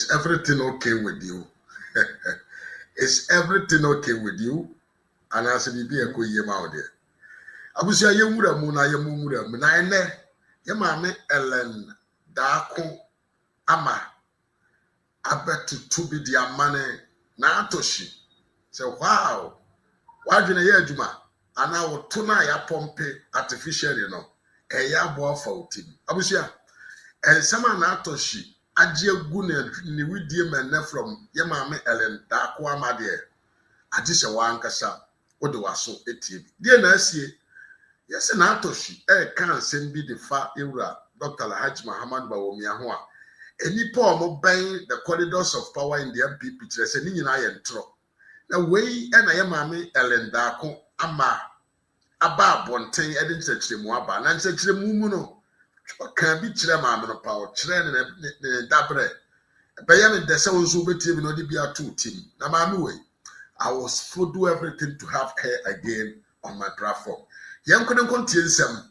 Is everything okay with you? Is everything okay with you? Anaasɛ biribi a ɛkɔ yie ma wo deɛ. Abusua yɛn nwura mu na yɛn mu nwura mu na ɛnɛ yɛn maame Ellen Daako ama abɛtoto bi de ama ne n'atohye sɛ wow w'adwene yɛ adwuma. anaa wo to no a yɛapɔmpe artificially no, ɛyɛ aboa fa wo ti mu. Abusua, nsɛm a Naatoshi agye agu ne ne widie mɛnnɛ from yɛ maame Ellen Darkoa ma deɛ, agye sɛ wo ankasa wode w'aso atie bi. Deɛ na asie? Yɛse Naatoshi reka nsɛm bi de fa yɛwura Doctor Alhaji Mahamadu Bawumia ho a, nnipa a wɔbɛn the corridors of power in the MPP kyerɛ sɛ ne nyinaa yɛ ntorɔ. Na wei na yɛn maame Ellen Darko ama aba abɔnten de nkyerɛkyerɛmu aba. Na nkyerɛkyerɛmu mu no, ɔkaa bi kyerɛɛ maame no pa, ɔkyerɛɛ ne ne ne dabrɛ. Ɛbɛyɛ no dɛ sɛ wo nso wobɛtie bi na ɔde bi ato wo tim. Na maame wei, I will still do everything to have her again on my platform. Yɛnko ne nko ntie nsɛm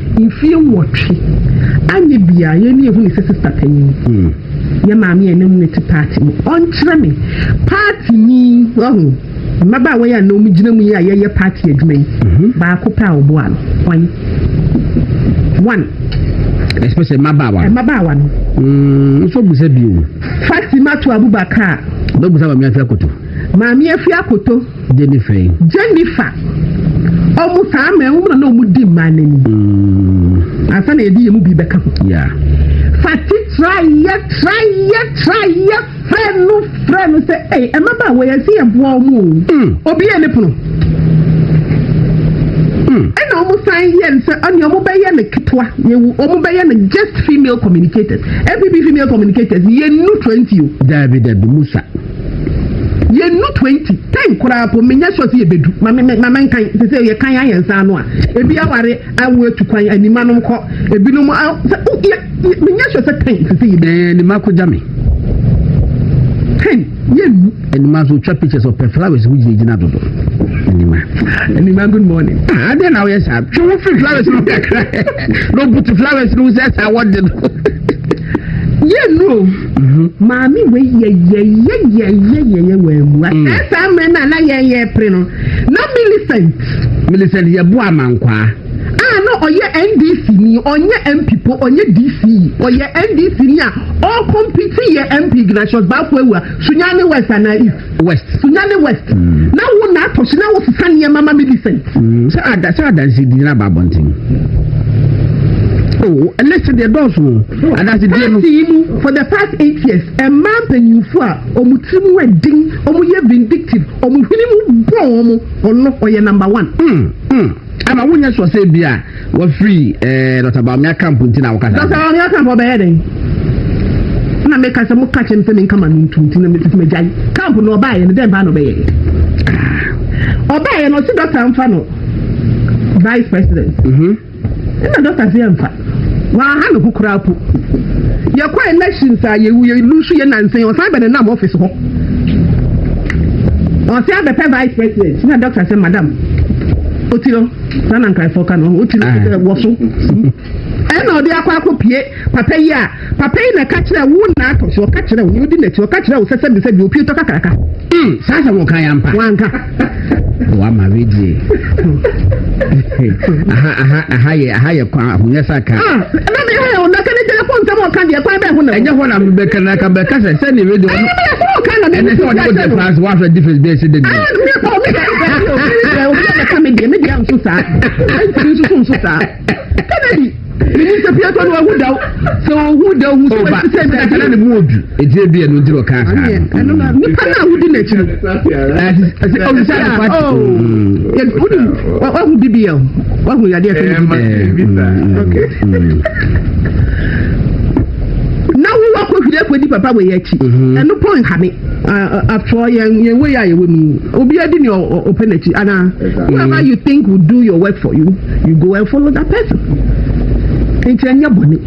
Mfie nwɔtwe anyɛ biaa yɛn ne yɛhu ne sɛ sista panyin. Yɛn maame a na mu no te party mu ɔnkyerɛ me party ni wahu. Mmabaawa yi a na ɔmo gyina mu yi a yɛyɛ party adwuma yi baako pɛ a ɔboa no hwan? One. Especially mmabaawa. Mmabaawa no. Mm, nso busa bio. Fatima to Abubakar. Bɛbusa maame afi akoto. Maame afi akoto. Jennifer yi. Jennifer. Ɔmo saa mɛ ɔmo na na ɔmo di mmaa n'ani. Mm. Ansa na yɛde yɛ mu bi bɛka ho. Yeah. Fati trayɛ trayɛ trayɛ frɛ no frɛ no sɛ ɛy ɛmaba wɔ yɛn si yɛ boa ɔmo o. Mm. Obi yɛ ne pono. Mm. Ɛna ɔmo san yɛ no sɛ ɔne ɔmo bɛyɛ no ketewa yɛwu ɔmo bɛyɛ no just female communicators ɛpb female communicators yɛn nu twenty o. Dabi dabi musa. Yɛnnu twenty, ten koraa mpo, menyɛ sure sɛ yɛbɛdu, ma me, ma menkan, te sɛ yɛkan ara yɛn nsa ano a, ebi aware awo atu kwan, animanom kɔ, ebinom, a, sɛ, oh, yɛ, yɛ, menyɛ sure sɛ ten, te sɛ yɛbɛdu. Ɛɛ, anima kɔgya me. Ten, yɛnnu. Anima nso, twa pictures, ɔpɛ flowers ho gyinagyina dodo. Anima. Anima, good morning. Ah, adɛn na woyɛ saa? Twe wo fi flowers no kakra. Na ɔbutu flowers no ho sɛ saa wɔde no. Yɛnnu o. Maame wei yɛ yɛyɛyɛyɛyɛyɛ wammua. Mm. Sɛ saa mmerɛ no a na yɛn yɛpere no na Millicent. Millicent yɛ boa amankwaa. A ah, na ɔyɛ NDC ni ɔnyɛ MP po ɔnyɛ DC ɔyɛ NDC ni a ɔkɔmpiti yɛ MP Ignatius Baako Awua Sunyani West anaa East. West. Sunyani West, na wo na atɔ so na wosesa nneɛma ma Millicent. Sɛ ada sɛ adansi di na ba abɔnten. Oh, list deɛ dɔɔso adansi die no. Pati yi mu for the past eight years, mmaa mpanyinfo a wɔn ti mu yɛ den, wɔn yɛ vindictive, wɔn hwene mu bɔ wɔn, ɔno ɔyɛ number one. Mm, mm. Ama wonyɛ sɔ sɛ bia. Wafiri ɛɛ eh, Dr. Bawumia camp nti na wokasa. Dr. Bawumia camp ɔbɛyɛ dɛn? Na mi kasa mo kakyɛ mi sɛ mi nkama mi ntu nti na mi tutu mi gya yi. Camp na ɔbaa yɛ no dɛn paa na ɔbɛyɛ? Ah. Ɔbaa yɛ no ɔsi dɔkta nfa no vice president. Mhm. Ɛna dɔkta se yɛ nfa. Waha ne ho koraa po. Yɛkɔ elections a yɛwu yɛ lusu yɛ nansa yɛ ɔsan bɛ ne nam office hɔ. Ɔsi abɛpɛ vice president na dɔkta sɛ madam otiro. na na nkaefo ka no wotu no sɛ wɔ so ɛna ɔde akɔ akɔpie papa yi a papa yi na ɛka kyerɛ wo na atɔ so ɔka kyerɛ wo ne wodi n'akyi ɔka kyerɛ wo sɛ sɛbi sɛbi opie tɔ kakraka hmm, saa sɛ wɔka yɛ ampa wanka wama redie aha yɛ aha yɛ kwan ahonyɛ sa ka ah, ɛna ne ha yɛ ɔdaka ne gyɛlɛ fɔn nsɛm ɔka deɛ kwan bɛ ho na ɛnyɛ hɔ na bɛka na ka bɛka sɛ sɛ ne radio ɛne sɛ ɔde wo de france wafɛ difference bɛɛ si de deɛ Sɛ obi a bɛka me deɛ, me deɛ nso saa. Ɛntumi nso so nso saa. Kennedy, menim sɛ piatɔ no ahu daw. Sɛ ɔhu daw hu sɛ oh, wɔte sɛ dade. Ɛna ne mu odu. Ɛti ebi ɛno nti na ɔka saa. Ɛno na nipa no a wodi n'akyi no. Ɛsɛ ɔwusa ne pati. Wodi wahu bibi yɛ wahu yadeɛ fɛ ne bibi. Na wo wakɔ hwiri akɔdi papa wɔ yɛ akyi. Ɛno pɔn ha me. afɔ yɛn yɛn wei a yɛwɔ mu yi obiara di nea ɔpɛ n'akyi anaa whoever you think will do your work for you you go and follow that person nti ɛnyɛ bɔne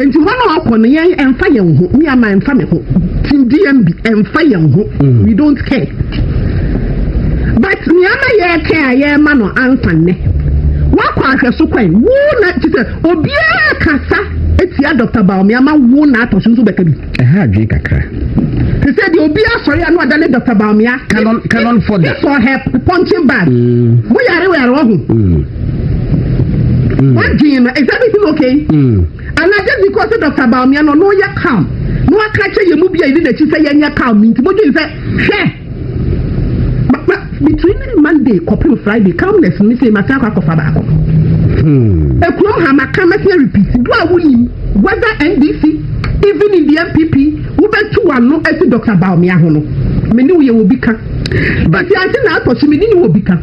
nti hɔ na ɔkɔ no yɛn ɛnfa yɛn ho mi ama ɛnfa mi ho ti dmb ɛnfa yɛn ho mm. we don't care but nea ama yɛ kɛ a yɛ ma no ansa nnɛ wakɔ ahwɛso kwan wo na ti sɛ obiara kasa etia dr baomi ama wo na atɔ so nso bɛka bi. Ɛha adwene kakra. Te sɛ deɛ obi asɔre a na ɔda ne Dr. Bawumia. Canon Canon Foda. If for her punching bag. Mm. Mo yare wɔ yare wɔ ho. Mm. Mm. Wadwin no is everything okay? And I just because Dr. Bawumia no no yɛ calm. No aka kyɛ yɛ mu bi a yɛ ne n'akyi sɛ yɛnyɛ calm nti mo dwen sɛ hwɛ. Papa between ne Monday kɔpem Friday calmness me se mate akɔ akɔfa baako. Hmm. Ekurom ha maka mɛsɛ repeat do a wonim whether NDC even in the MPP wobɛtu wano asi Dr. Bawumia ho no me ne wo yɛ wɔ bi ka. But ante na atɔ so me ne ne wɔ bi ka.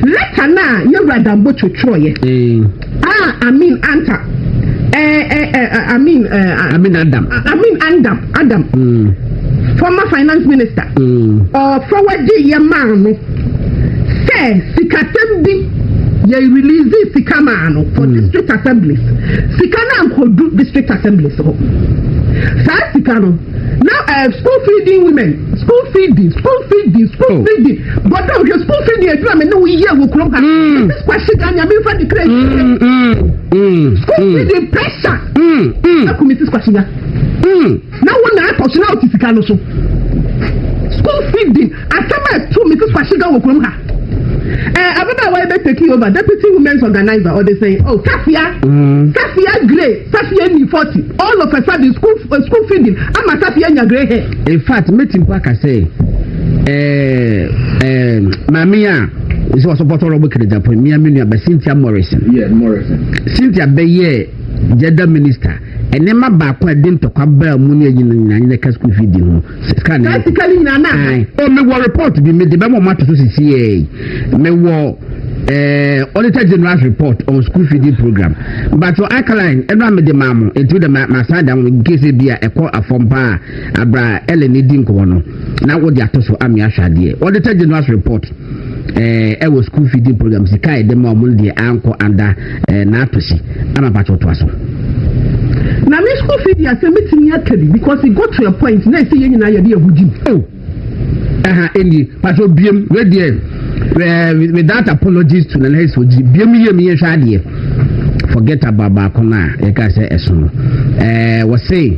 Leta no a yɛwura Dambo twotworoyɛ. Ah Amin Anta eh, eh, eh, eh Amin eh, ah, Amin Adam ah, Amin Adam Adam mm. former finance minister mm. or forward yɛ maa no sɛ sikasɛm bi yɛ release sika maa no for mm. district assemblies sika na nkodu district assemblies hɔ saa sika no. na ɛɛ school feeding women school feeding school feeding school oh. feeding bɔdɔ hwɛ school feeding adwuma mi ne wo yie wɔ kurom ha ɛsɛ sikwa si da nyame nfa de kura yi school mm. feeding pressure ɛkumi si sikwa si da na wo na ɛkɔ so na o ti sika no so school feeding. Asɛm a ɛto me ti kwahyegaw wɔ kurom ha. Ɛɛ ababaawa yi bɛ take over deputy women's organizer ɔde sɛn oh safia mm. safia grey safia ni forty all of a sudden school uh, school feeding ama safia nya grey hair. in fact meti mpo aka sɛ ɛɛ ɛɛ maame a sɛ wɔsɔpɔtɔ rɔbo kere japan mmea mi nua bɛ cynthia morrison. yeah morrison. cynthia bɛyɛ jɛda minister ɛnɛɛma baako a ɛde ntɔkwa baa mu ne ɛnyina nyina nyina ka school feeding ho. sika no sika no nyinaa naa o oh, mewɔ report bi mede bɛma ɔmo ato so sisi yɛ mewɔ ɛɛ auditor general report on school feeding program but your alkaline ɛno a mede maa mo etu de ma ma san da mo nkese bi a ɛkɔ afɔm paa abira ɛlɛ ne di nkɔmɔ no na wɔde ato so amia ahwɛ adeɛ auditor general report. Eh, ɛwɔ school feeding program sika a yɛde ma wɔn deɛ ankɔ anda eh, n'atɔsi ama mpatsɔ toa so. na me school fee deɛ sɛ metumi aka bi because it got to a point na ɛsɛ yɛn nyinaa yɛde ahu gyim. o ɛha ɛni patsɔ biem wedeɛ ɛɛ without apologies to nana esi ogyi biem yie mi yɛ hwɛ adeɛ forget about baako no a yɛka sɛ ɛso no ɛɛ wɔsɛn.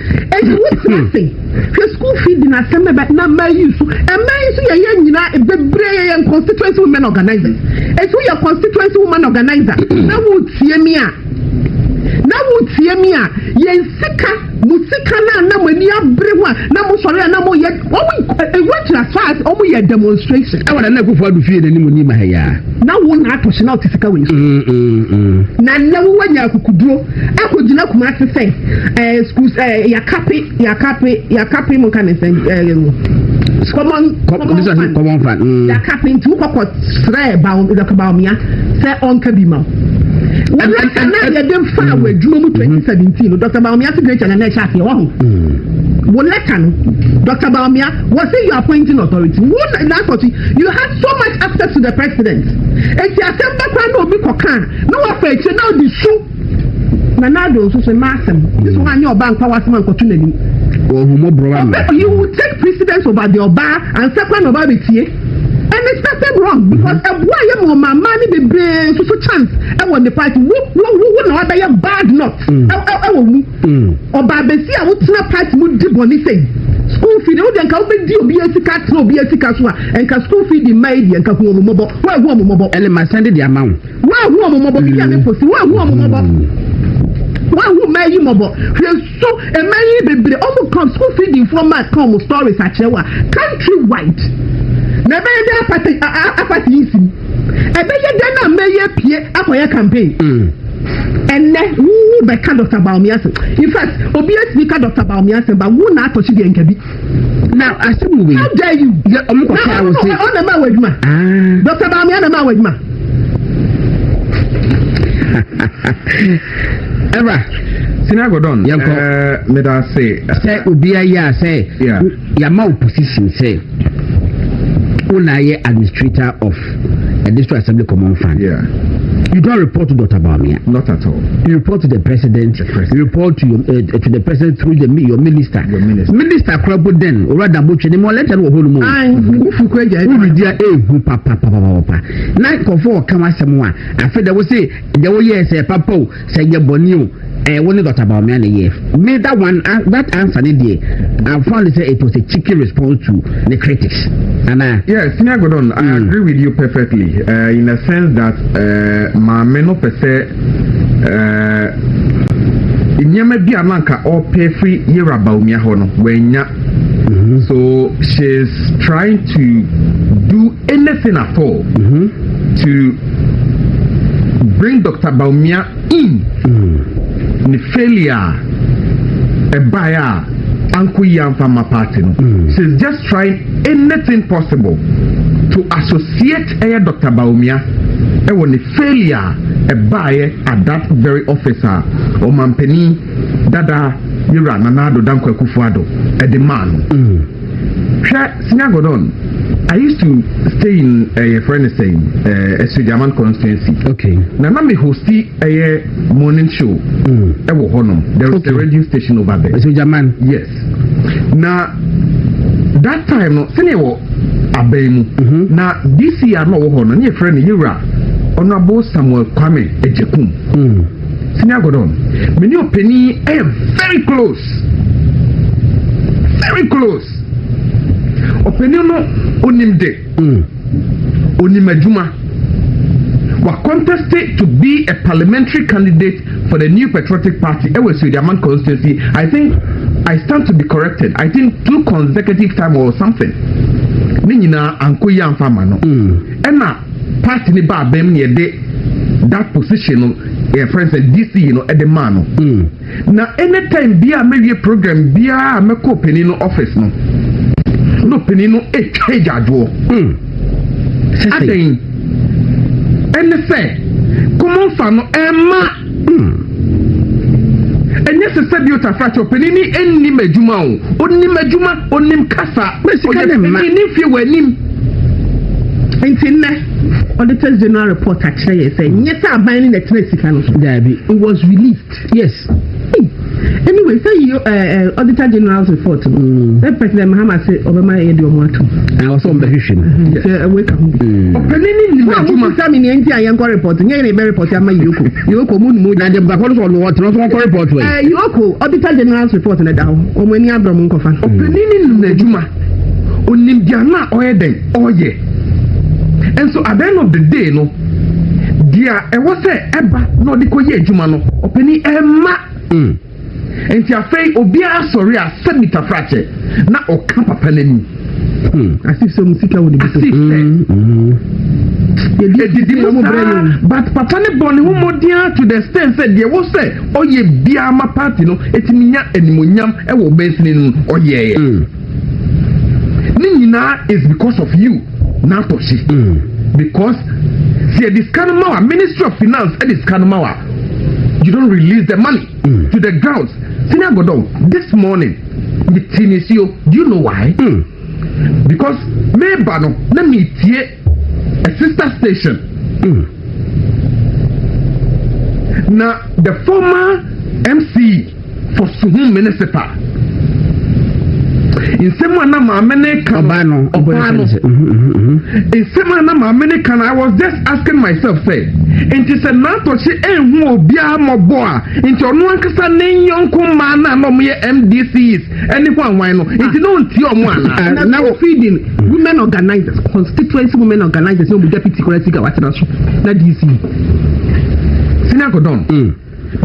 Enti wote ase? Hwɛ school fee din asɛm bɛbɛ na mmaa yi nso mmaa yi nso yɛyɛ nyinaa bebree yɛyɛ constituency women organizers eti woyɛ constituency woman organizer na wotie mi a na wotie mi a yɛn sika mo sika na na mo ani abere ho a na mo sɔre a na mo yɛ wɔn ewu akyiri as far as wɔn yɛ demonstration. ɛwɔ na na kufu adu fie n'anim ni ma ha yaa. na wo na atɔ hyɛ na ɔte sika wɔ yi so. na na wo wɔ nya akukuduro. akɔgyina Kumase sɛ ɛɛ sukuu ɛɛ yakape yakape yakape mo nka ne sɛ ɛɛ common common fund common fund mm. yakape nti wokɔkɔ srɛ bawo dɔkɔ bawomia sɛ ɔnka bi ma wɔn aka na yɛde nfa mm. wɔ adwuma mu twenty mm-hmm. seventeen no dɔkɔ bawomia sɛ greater na ɛhyɛ aseɛ wɔho mm. wɔn lɛka no dɔkɔ bawomia wɔ sɛ you appointing authority wɔn na na akɔti you have so much access to the president eti asɛm bɛkora na obi kɔ kan. Na wafa akyire na ɔde su na n'ado nso so mma asɛm nso mm. anyɛ ɔbaa nkwa w'asɛm ankɔto n'anim ɔbɛ you will take precedence over the ɔbaa ansa kwan na ɔbaa bɛ tie and it's nothing wrong mm-hmm. because ɛboa yɛ ma ɔma mmaa ne bebree nso so chance ɛwɔ ne party wo wo wo na wabɛyɛ bad not ɛwɔ mm. mu. Ɔbaabɛsi a wotena party mu di bɔne sei school fee deɛ wodeɛ nka wobɛdi obiara sika atena obiara sika so a nka school fee di mma yi deɛ nka hu ɔmo mmɔbɔ woahu ɔmo mmɔbɔ ɛne ma sɛnde deɛ ama wo woahu ɔmo mmɔbɔ bibi a ne posi woahu ɔmo mmɔbɔ woahu mmaa yi mmɔbɔ hwɛ so mmaa yi bebree ɔmo ka school fee di nfoɔ ma ka ɔmo stories akyerɛ wo a country wide na ɛbɛyɛ dɛ apate apate yi si ɛbɛyɛ dɛ na mmaa yi apue akɔyɛ campaign. Mm. Ɛnɛ wo wo bɛ ka Dr. Bawumia asem. In fact, obi esi bi ka Dr. Bawumia asem ba wo na atɔ si deɛ nka bi. Na asem wo wei. How dare you? Yɛ ɔmo kɔ kaa wo se. Na ɔmo na ma wɔ adwuma. Ah. Dr. Bawumia na ma wɔ adwuma. Ever. Sinagodon. Yɛnkɔ. Ɛɛ, meda se. Sɛ obi ayɛ a sɛ. Yeah. Yama wo position sɛ wo na yɛ administrator of the district assembly common fund. Yeah. You don't report to Dr. Bawumia. Not at all. You report to the president. The president. You report to your uh, to the president through the, your minister. Your minister. Minister kurabo den ora dabo twene mo leta no hɔ no mu. Ai, wo fu kwa gya. Wo redi a ehu papa papa papa. Na kofo o kan asɛm a. Afi da wo se da wo yɛ sɛ papa o. sɛ ɛyɛ bɔne o ɛyɛ wo ne dɔkta baomia na ɛyɛ me that one uh, that answer ne deɛ i found sɛ it was a cheeky response to the critics ana. yes senior godon i mm. agree with you perfectly uh, in a sense that uh, maame no pɛ sɛ uh, nneɛma bi a nanka ɔpɛ firi yɛwura baomia hɔ no wɔanya mm-hmm. so she is trying to do anything at all mm -hmm. to bring Dr. Baumia in mm. ne failure a ɛbaeɛ a anko yi anfa ma party no mm. she is just trying anything possible to associate ɛyɛ Dr. Baumia ɛwɔ ne failure a ɛbaeɛ at that very office a ɔmampanin dada yɛwura nana ado dankwa kufu ado ɛde maa no. Mm. Hwɛ Sina Gordon, I used to stay in ɛyɛ eh, fɛ no sɛn ɛɛ eh, Asuagyaman constituency. Okay. Na na mi hosti ɛyɛ eh, morning show. Ɛwɔ hɔ nom. There is a radio station over there. Asuagyaman. Yes. Na that time no sɛnea wɔ abɛn mu. Mm-hmm. Na DC a na ɔwɔ hɔ no ne yɛ fɛ no Yewura Honourable Samuel Kwame Ejekum. Mm. Senior Gordon, me ne ɔpanin yɛ very close. Very close. Ɔpanin no onim de. Mm. Onim adwuma. Wa contested to be a parliamentary candidate for the New Patriotic Party ɛwɔ Suediaman constituency. I think I stand to be corrected. I think two consecutive time or something. Ne nyinaa anko yi anfa ma no. Mm. Ɛna party ne ba abɛn mu na yɛde that position no yɛ friend sɛ DC no ɛde maa no mm. na anytime bi a mɛwie program biara a mɛkɔ panin no office no na panin no ɛtwa agyadoɔ mm. adɛn ɛne sɛ kɔmɔnfa no ɛma Hmm. ɛnyɛ sɛ sɛ bi otafra kyɛ ɔpanin ni ɛnnim adwuma o ɔnim adwuma ɔnim kasa ɔyɛ panin ne fie wɔ anim nti nnɛ auditors general report akyerɛ yɛ sɛ nyɛ sɛ aban ne na ɛtena sika no daabi it was released yes Anyway, sɛ yi ɛɛ Auditor General's report no, sɛ President Mahama se ɔbɛma yɛ de ɔmo atum. Na wɔsɛ ɔmo bɛhwehwɛ mu. Sɛ ɛwɔ eka ho. Ɔpɛni ni nim adwuma. Ɔmo kusa mi ni ɛnti a yɛn kɔ report nyɛ yɛn bɛ report ama Yoko. Yoko mu numu. Na de bakɔ no sɛ ɔno ɔtena so ɔkɔ report wɛ. Ɛɛ Yoko Auditor General's report na da hɔ. Ɔmo ani adɔ ɔmo nkɔfa. Ɔpɛni ni nim adwuma. Onim di ano a ɔyɛ dɛn ɔyɛ. And so at the end of the day no. deɛ ɛwɔ sɛ ɛba na ɔde kɔ yɛ adwuma no ɔpɛni ɛmma mm. nti afei obiara sɔre a sɛ mita frakyɛ na ɔka papa no anim hmm. asif sɛ mu sika wɔ ne bi so hmm, hmm. yɛdidi mu saa but papa ne bɔ ne ho mmɔden to the extent sɛ deɛ wɔ sɛ ɔyɛ biara ma party no ɛtumi nya animonyam ɛwɔ bɛnsini no ɔyɛɛ ne nyinaa is because of you n'atɔ hye mm. because sɛ yɛde sika no ma wa ministry of finance ɛde sika no ma wa you don't release the money mm. to the grounds sini agodon this morning mi ti ni si o do you know why mm. because meba no na mi tie. a sister station mm. na the former mc for suhun municipal nsɛm a na maame ne ka ɔbaa no ɔbaa no mhm, mhm, mhm. nsɛm a na maame ne ka no i was just asking myself sɛ nti sɛ n'atɔkye ehu obiara mɔbɔ a nti ɔno ankasa ne nyɔnko mmaa no a na wɔyɛ mdcs ɛne hwan hwan no nti na ɔntie ɔmo anaa na wɔ feeding women organizers constituency women organizers na ɔmo deputy kora sika watena so na dc sini akodɔn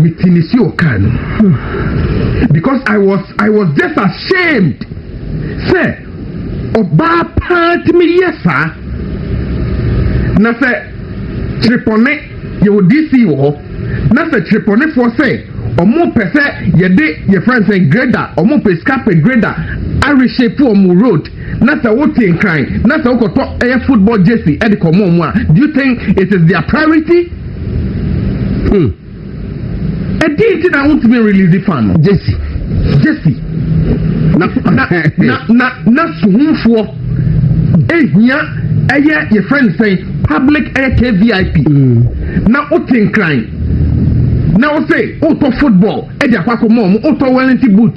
mi ti mi si ɔkaa no because i was i was just ashamed sɛ ɔbaa paa ti mi yɛ saa na sɛ. Kyerepɔnne, Yɛwɔ DC wɔ hɔ na sɛ kyerepɔnnefoɔ sɛ ɔmo pɛ sɛ yɛde yɛfrɛ no sɛ grader ɔmo pɛ sika pɛ grader areshape ɔmo road na sɛ wote nkran na sɛ wokɔtɔ ɛyɛ football jersey ɛde kɔmɔ ɔmo a do you think it is their priority? Hmm. ɛdi nti na wontumi release fan no. jesi jesi na na na na na suhunfoɔ ehia ɛyɛ yɛ friend sɛn public ɛyɛ kvip mm. na wote nkran na wose wotɔ football ɛde akɔ akɔ mɔɔ mu wotɔ wellington boot.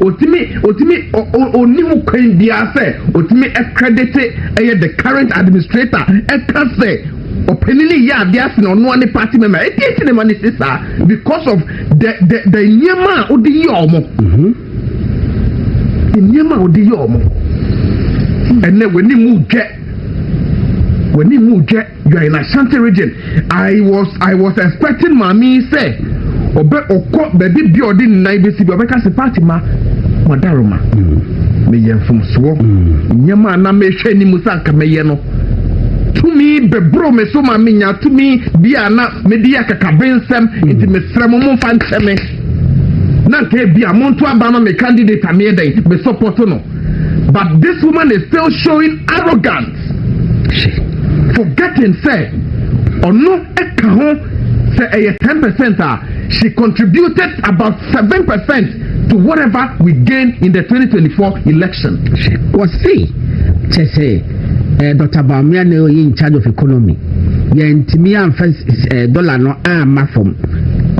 Ɔtumi, ɔtumi, ɔ, ɔ, ɔnni ho kwan biara sɛ ɔtumi ɛkredete ɛyɛ the current administrator ɛka sɛ ɔpanini yɛ adeɛ ase na ɔnoa ne party member. Ɛdeɛ nti ne ma ne si saa because of the, the, the nneɛma a ɔde yɛ ɔmo. Mm-hmm. Nneɛma a ɔde yɛ ɔmo. Ɛnɛ w'ani mu dwɛ. W'ani mu dwɛ. You are in Ashanti region. I was I was expecting maame yi sɛ ɔbɛ ɔkɔ baabi bi a ɔde nnan besi bi ɔbɛka sɛ Fatima madaroma meyɛ mm. mfomsoɔ mm. nneɛma a na mehwɛ anim sɛ anka mɛyɛ no tumi bɛboro me so ma menya tumi bi a na mede yɛ kakabe nsɛm mm. nti mesrɛ mo momfa nkyɛ me na nka bi a monto aba ma me candidate a meyɛ dɛn mesɔpɔto no But this woman is still showing arrogance. Forgetting sɛ ɔno ɛka ho sɛ ɛyɛ ten percent a she contributed about seven percent to whatever we gain in the 2024 election. wɔsi kyɛ sɛ ɛɛ dɔkta baamia na ɔyɛ in charge of economy yɛn ntumi anfa ɛɛ dɔla no ama fam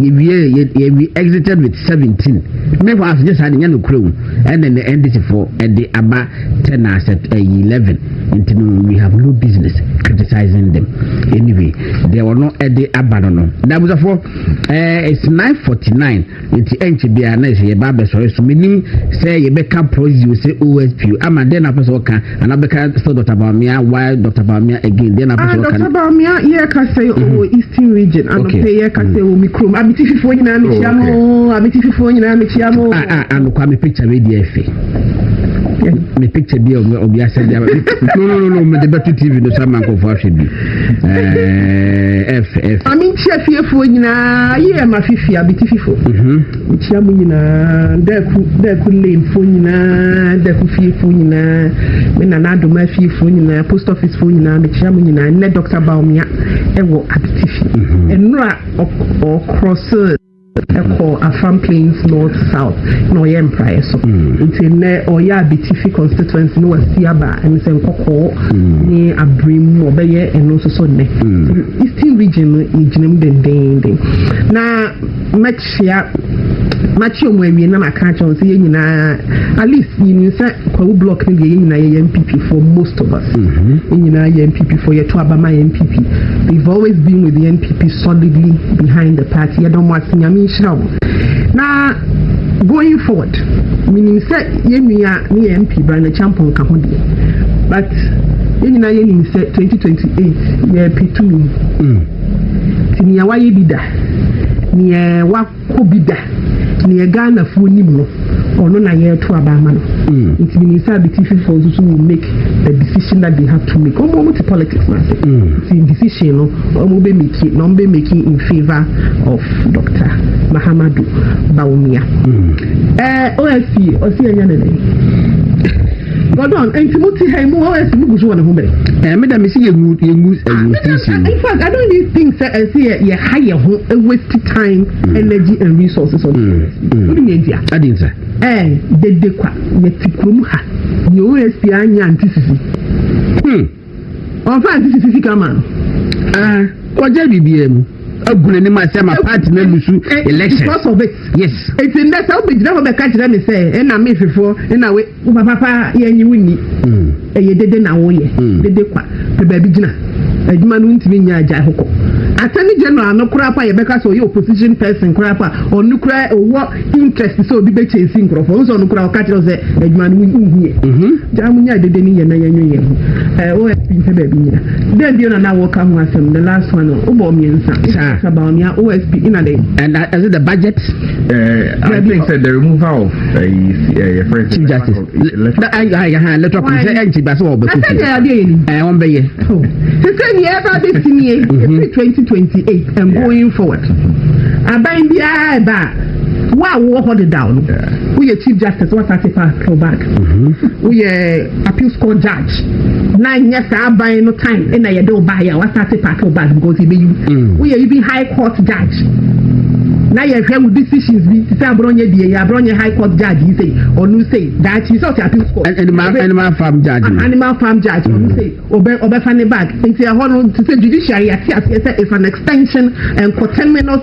yɛwie yɛwie exited with seventeen mmefo asogye saa de nyɛ no kura mu. Ɛnde ne NDC fo de aba tɛ na sept ɛyi eleven nti no we have no business criticizing them anyway deɛ ɔno ɛde aba no no na abusafo ɛɛ it's nine forty nine nti ɛnkyɛ biara na ɛsɛ yɛba abɛsɔre so menim sɛ yɛbɛka prɔzio sɛ osp ama deɛ na apɛ sɛ ɔka And Abeka still Dr. Bawumia. Why Dr. Bawumia again? Then Abeka. Ah, Dr. Bawumia, yeah, kase o mm-hmm. Eastern region. Ano pe yeah, kase o mikrom. Abiti fifo nyina mi chia mo. Abiti fifo nyina mi chia mo. Ah ah, ano kwa mi picture we di efe. Me picture bi obi asɛ bi no no no no mede bɛto tv no sa ma nkɔfoɔ ahwɛ bi ɛf ɛf ame nkyia fiefoɔ nyinaa yɛ ma fifi abete fifo Mekyia mo nyinaa, Daku, Daku lane foɔ nyinaa, Daku fie foɔ nyinaa, me nana adoma fie foɔ nyinaa, post office foɔ nyinaa, mekyia mo nyinaa. Nnɛ Dr. Baumia ɛwɔ Abitifi. Ɛnora mhm. ɔkrɔse ɛkɔ Afam Plains North South na ɔyɛ mpraeɛ so. Mhm. Nti nnɛ ɔyɛ Abitifi constituency ne wasi aba ɛne sɛ nkɔkɔɔ mhm. ne abere mu ɔbɛyɛ ɛno nso so nnɛ. Eastern region no yɛgyina mu dendenden. Na hyia. Makyia ɔmo awie na maka akyerɛ wɔn sɛ yɛn nyinaa at least menim sɛ Kwawu block no deɛ yɛn nyinaa yɛyɛ NPP for most of us. Mm-hmm. Yɛn nyinaa yɛ NPP for yɛto aba ma NPP. They've always been with the NPP solidly behind the party. Yɛda ɔmo ase nyame nhyira ɔmo. Na going forward menim sɛ yɛn nua ne yɛ MP Brandon Champon ka ho deɛ but yɛn nyinaa yɛnim sɛ 2028 yɛpɛ tumi. Mm. Nti nea wayɛ bi da, nea wakɔ bi da, nea Ghanafoɔ nim no, ɔno na yɛreto aba ama no. Nti menim sɛ Abetififoɔ nso so will make the decision that they have to make. Wɔn wɔn te politics no ase. Nti decision no wɔn bɛ make na wɔn bɛ make in favour of Dr. Mahamadou Bawumia. Ɛɛ OFC ɔsi ɛnyɛ ne dɛ. Pardon, nti mo ti ha yi mo hɔ ɛsi mo gu so wɔ ne ho bɛn. Ɛɛ eh, mi da mi si yɛ ngu yɛ ngu ɛyɛ eh, ti si. In fact, I don't even think sɛ ɛsi yɛ yɛ ha yɛ ho eh, waste time, mm. energy and resources on it. O de mi yɛ ntia. Adi nsa. Ɛɛ dede kwa yɛ ti kurom ha yɛ o yɛ si anya nti sisi. Hmm. Ɔmfa nsisi sisi ka ma no. Ah, ɔgya biribiara mu. Agu n'anim a sɛ ma party no alusu election. Because of it. Yes. Eti nnɛ sɛ wobɛgyina hɔ bɛka kyerɛ me sɛ ɛna me hwefoɔ ɛna we wo papa pa yɛnye wo nni. Hmm. Ɛyɛ dede na woyɛ. Hmm. Dede kwa. Pɛ baabi gyina. Adwuma no ntumi nyɛ agyae hokɔ. Attorney General no koraa pa yɛbɛka sɛ ɔyɛ opposition person koraa pa ɔno koraa ɔwɔ interest sɛ obi bɛ kyɛnsi nkurɔfoɔ ɔno sɛ ɔno kura ɔka kyerɛ sɛ adwuma no wonhu yɛ gyaa mo nya dede ne yɛ na yɛnwe yɛn ho osp mpɛ baabi nyina dɛn bio na na wɔka ho asɛm the last one wobɔ mmiɛnsa it's about nea osp ina dɛn and uh, is it the budget uh, i think sɛ the removal of uh, uh, chief justice na ayɛ ayɛ ha ne tɔpɔ sɛ ɛnti ba sɛ wɔn bɛkɔ fie ɛɛ wɔn bɛyɛ. sese ni ɛba bɛ si nie efi twenty twenty eight and going forward aban biara ɛba a wo a wowɔ hɔ dedaw no woyɛ chief justice wɔsase pa pro back woyɛ appeals court judge. na nyɛ saa aban no time ɛna yɛde wo baayɛ a wasate paake wo bag because yɛbɛyi wo mm. woyɛ bi high court judge na yɛhwɛ wo decisions bi te sɛ aborɔnyɛ die yɛ aborɔnyɛ high court judge yi sei ɔno sei daakyi sɛ ɔte appeals court animal farm judge ah, animal farm judge ɔno mm. sei ɔbɛ ɔbɛfa ne bag nti ɛhɔ no te sɛ judiciary yɛate aseɛ sɛ it's an extension and coterminous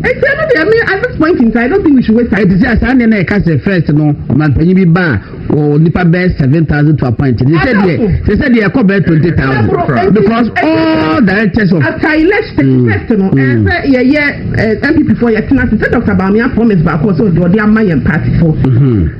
Enti ɛno deɛ me at this point in time I don't think we should waste time. Ɛte sɛ asaa nneɛ na ɛka sɛ first no ɔmanpanyin bi ba a wɔ nipa bɛɛ seven thousand to appoint ne sɛ deɛ sɛ sɛ deɛ ɛkɔ bɛɛ twenty thousand because all directors of. after election mm, first no mm. ɛsɛ yɛyɛ eh, npp fo yɛtena se sɛ dr baamia promise baako sɛ ɔde ɔde ama yɛn party fo. Mm-hmm.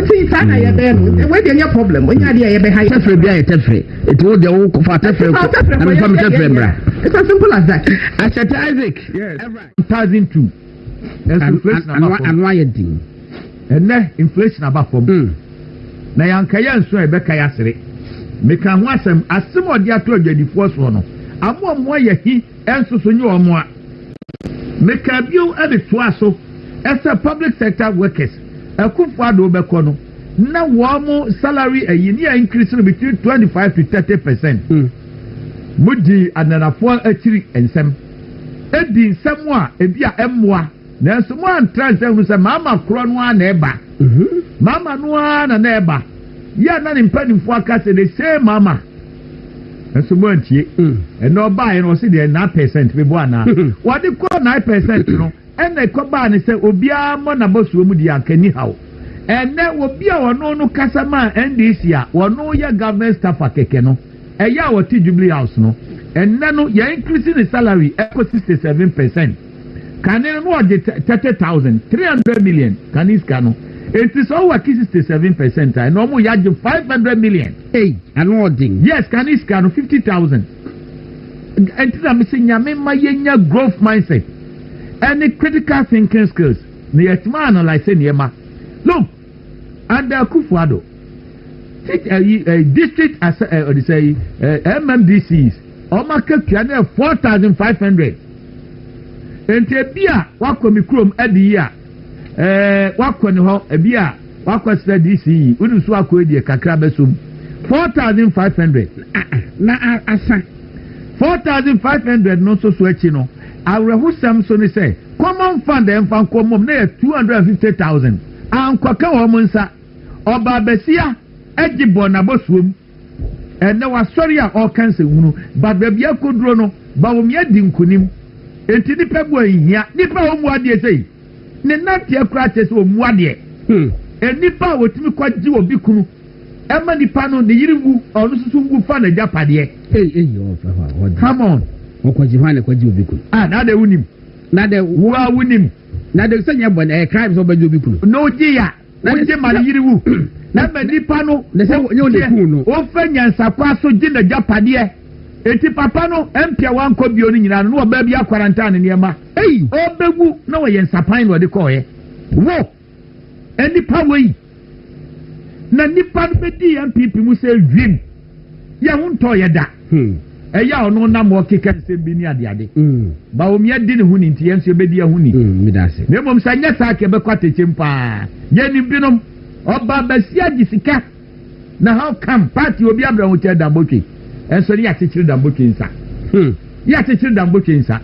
Nti saa na yɛ bɛyɛ no wei deɛ nyɛ problem onye adeɛ a yɛ bɛ ha yɛ. tɛfrɛ bi a yɛ tɛfrɛ eti wo deɛ wo kɔ fa tɛfrɛ kɔ na mi fa mi tɛfrɛ mbra. it's as simple as that. asɛte isaac. yes two thousand two. ano ayɛ den. ɛnɛ inflation aba fam. Hmm. na yanka yɛ nso a yɛbɛka yɛ asere meka ho asɛm asɛm a ɔde ato adwadifoɔ soɔ no amoamoa yɛ hi nso so nyɛ wɔn a. Mekaa bio de toaa so sɛ public sector workers Akuffo Addo bɛkɔ no, na wɔn salary ayi ne a increase no between 25 to 30 percent. Mm. Mudi ananafoɔ akyiri nsɛm. Edi nsɛm a ebi a ɛmmoa. Nanso moantra ase ahunu sɛ Maama korɔ no ara na ɛba. Maama no ara na na ɛba. Yɛ a na ne mpanimfoɔ aka sɛ the same Maama. Nanso moantie. Ɛnna ɔbaeɛ no ɔse deɛ nine percent bɛbɔ anaa. Wɔde kɔɔ nine percent no ɛnna ɛkɔbaa no sɛ obiara mmɔ n'abɔsoɔ mu deɛ anka nni haw. Ɛnnɛ obi a ɔno no kasa maa NDC a ɔno yɛ government staffer kɛkɛ no ɛyɛ a ɔte Jubilee House no ɛnnɛ no yɛincrease ne salary ɛkɔ sixty seven percent. kane no na ɔgye thirty thousand three hundred million kane sika no eti sɛ ɔwɔ aki sixty seven percent a ɛna ɔmo yɛ agye five hundred million. eyi ano ɔden. yes kane sika no fifty thousand ɛnti na mesi nyame ma yɛnya growth mindset ɛne critical thinking skills na yɛtuma analyse nneɛma look. Under Akufo-Addo, tit eh, eh, district as eh, ɔde sɛ yi eh, eh MMDCs wɔn akatua no yɛ four thousand five hundred nti ebi a wakɔ mi kurom adi yi a eh, wakɔ ne hɔ ebi a wakɔ srɛ DC yi wodi so akɔ edi kakra bɛsom four thousand five hundred na asa four thousand five hundred no nso so akyi no awerɛhosɛm so ne sɛ common fund ɛnfa nkɔmmɔm na yɛ two hundred and fifty thousand. Ankɔka wɔn nsa. Ɔbaa basia gye bɔɔ n'abɔsoɔ mu. Ɛnnɛ wasɔre a ɔreka nsɛnhunu, but baabi akɔduro no, Bawumia di nkunim. Enti nnipa bu anhia. Nnipa a wɔmmu adeɛ sei, ne nanteɛ koraa kyerɛ sɛ ɔmmu adeɛ. Nnipa a wɔtumi kɔgye obi kunu ma nipa no, ne yere nwu, ɔno nso so nwu fa n'agyapadeɛ. Ei ei ɔmfɛ hɔ a ɔde. Come on. Ɔkɔgye hwan na ɛkɔgye obi kunu? Ah, na adɛ wonim. Na adɛ. Wo a wonim. Na de sɛ nyɛ bɔne ɛyɛ crime sɛ wobɛgye obi kunu. Na ogye ya na ogye ma ne yere wu. Na ma nipa no deɛ ofa nyansakwa so gye n'agyapadeɛ. Eti papa no mpia wankɔ bio no nyinaa no na ɔbaa bi akwarantaa ne nneɛma. Ɔbɛwu na ɔyɛ nsapan na ɔde kɔɔeɛ. Wo! Nnipa wei! na nipa no bɛdi yɛn pp mu sɛ wim yɛ ho ntɔ yɛ da hmm. ɛyɛ a ɔno nam ɔkeka nsɛm bi ne adeade hmm. ba wɔn yɛdi ne ho ni nti yɛn nso yɛbɛdi yɛn ho ni hmm, na mmom sɛ nyɛ saa kɛ bɛkɔ atɛkyɛm paa yɛnim binom ɔba basia gye sika na how come party obi abirɛ ho kyɛ dambotwe ɛnso ne yɛakyekyere dambotwe nsa yɛakyekyere dambotwe nsa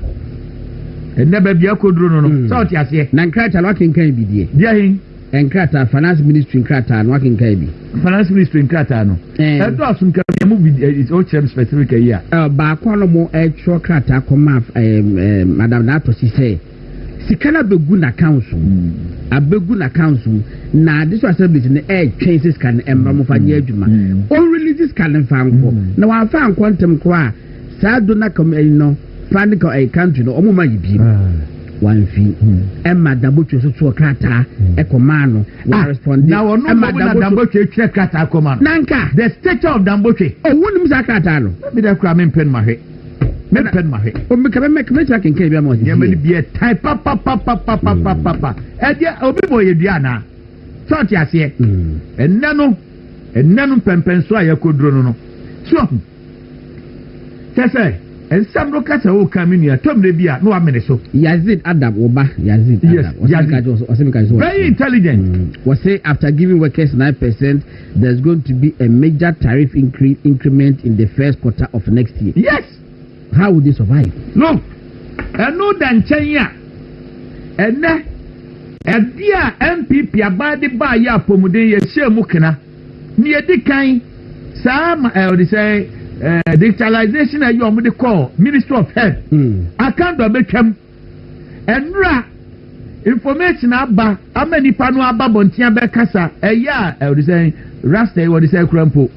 ɛnɛ baabi akɔduro no no sɛ ɔte aseɛ na nkrataa no akenkan bi deɛ deɛ Nkrataa, Finance Ministry nkrataa no, woakenkan bi? Finance Ministry nkrataa no, ɛdɔ aso nka mia mu bi, wokyerɛ me specific ayi a. Baako a na wɔn ɛtwerɛ krataa kɔma Madam Dato si sɛ, sika no abɛgu n'accounts mu, hmm. abɛgu n'accounts mu, na District Assemblies no ɛretwɛn sɛ sika no ɛmma mo fa nyɛ adwuma. Ɔrelease hmm. sika no mfa nkɔ, hmm. na wɔamfa nkɔ ntɛm koraa saa do na kɔm ɛyi no fa ne kɔ ɛyi country no ɔmo ma yi biem ah. wanfi hmm. ɛma dambotwe so toɔ krataa hmm. ɛkɔmaa no ah, wɔrespɔnde na wɔn nom wɔn na dambotwe kyerɛ krataa kɔma no nanka the stature of dambotwe ɔwɔ nim saa krataa no mi da kura mi mpɛn ma hwɛ mi mpɛn ma hwɛ omi kɛmɛ mɛ kɛmɛ kyerɛ kankan bi ama ɔsi yɛmɛ ni biɛ tai papapapapapapa hmm. ɛdiɛ obi bɔ yɛ dua na sɔɔti aseɛ ɛnɛ no ɛnɛ no mpɛmpɛnso a yɛ kɔ duro no no so. Kyɛ sɛ, nsɛm no ka sɛ wokan me nua tɔ mmerɛ bi a na wamene so. Yazid Adam, wo ba Yazid Adam. Yes, Yazid. Ɔsɛ mi ka kyerɛ Very intelligent. Mm. Wɔsɛ after giving workers nine percent, there's going to be a major tariff increase increment in the first quarter of next year. Yes. How will they survive? No. Ɛno da nkyɛn a ɛnɛ ɛde a NPP abaa de baa yɛ apɔmuden yɛ hyɛ mu kena. Nea edi kan, saa ma ɛɛ ɔde sɛ ɛɛ digitalization a ɛyɛ wɔn de kɔɔ ministry of health. Hmm. Akan dɔ bɛtwam. Ɛnura information aba ama nipa no aba bɔnten abɛkasa ɛyɛ a ɛɛ ɔde sɛ rasta yi wɔde sɛ kura mpo.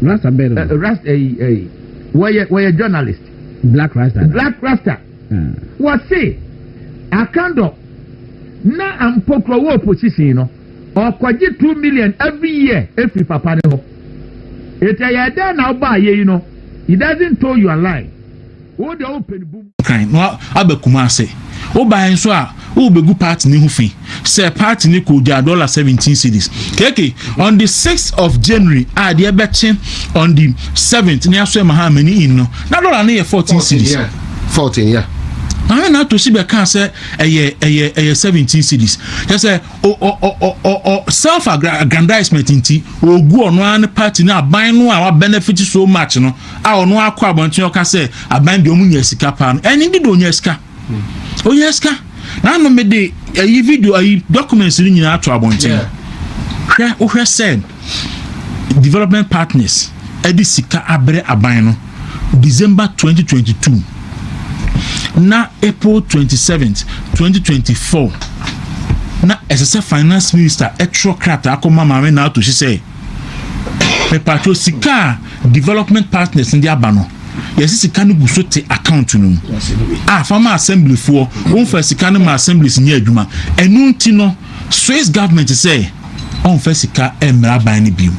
Rasta bɛn no. Eh, rasta ɛyi eh, ɛyi eh, wɔyɛ wɔyɛ journalist. Black rasta. Black rasta. Hmm. Wɔsi Akan dɔ na ampokuro wɔ opposition no. Ɔkɔgye two million every year firi papa no hɔ eti ɛyɛɛ dɛn na wobɔ ayɛyi no he doesn't tow you a line wo deɛ wo pɛ no bum. kan na aba Kumase. Wobae nso a worebegu party no ho fi sɛ party no kogyaa dollar seventeen cedis. KK on the sixth of January a deɛ ɛbɛkye on the seventh ne aso ɛma Hamani in no na dollar no yɛ fourteen cedis. Maame Nato si bɛkaa sɛ ɛyɛ ɛyɛ ɛyɛ seventeen cities kyɛ sɛ ɔ ɔ ɔ ɔ ɔ self aggrandizement nti ogu ɔno ara ne party no aban no a wa benefit so much no a ɔno akɔ abɔnten ɔka sɛ aban deɛ ɔmo nya sika paa no ɛne de de ɔnya sika ɔnya sika na ano mede ɛyi video ɛyi documents no nyinaa ato abɔnten hwɛ wohwɛ sɛ. Development Partners de sika abrɛ aban no December twenty twenty two na April twenty seventh twenty twenty four na ɛsɛ sɛ finance minister ɛtwerɛ krataa kɔma maame na ato si sɛ mepatwerɛ sika a development partners no de aba no yɛsi sika no gu so te account no mu a fama assemblyfoɔ wɔmfa sika no ma assemblies nyɛ adwuma ɛno nti no Swiss government sɛ ɔmfa sika mmra aban no bio.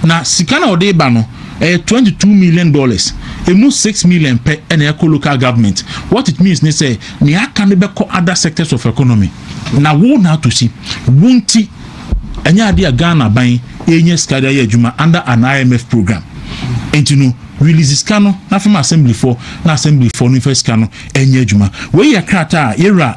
Na sika no a ɔde ba no, ɛyɛ twenty two million dollars. Emu six million pɛ na ɛkɔ local government. What it means ne sɛ, nea aka no bɛkɔ other sectors of economy. Na wo na ato si. Wo nti, ɛnyɛ ade a Ghana aban renya sika de ayɛ adwuma under an IMF program. Enti no, release sika no na fa ma assemblyfoɔ na assemblyfoɔ no mfa sika no nyɛ adwuma. Wei yɛ krataa a yɛwura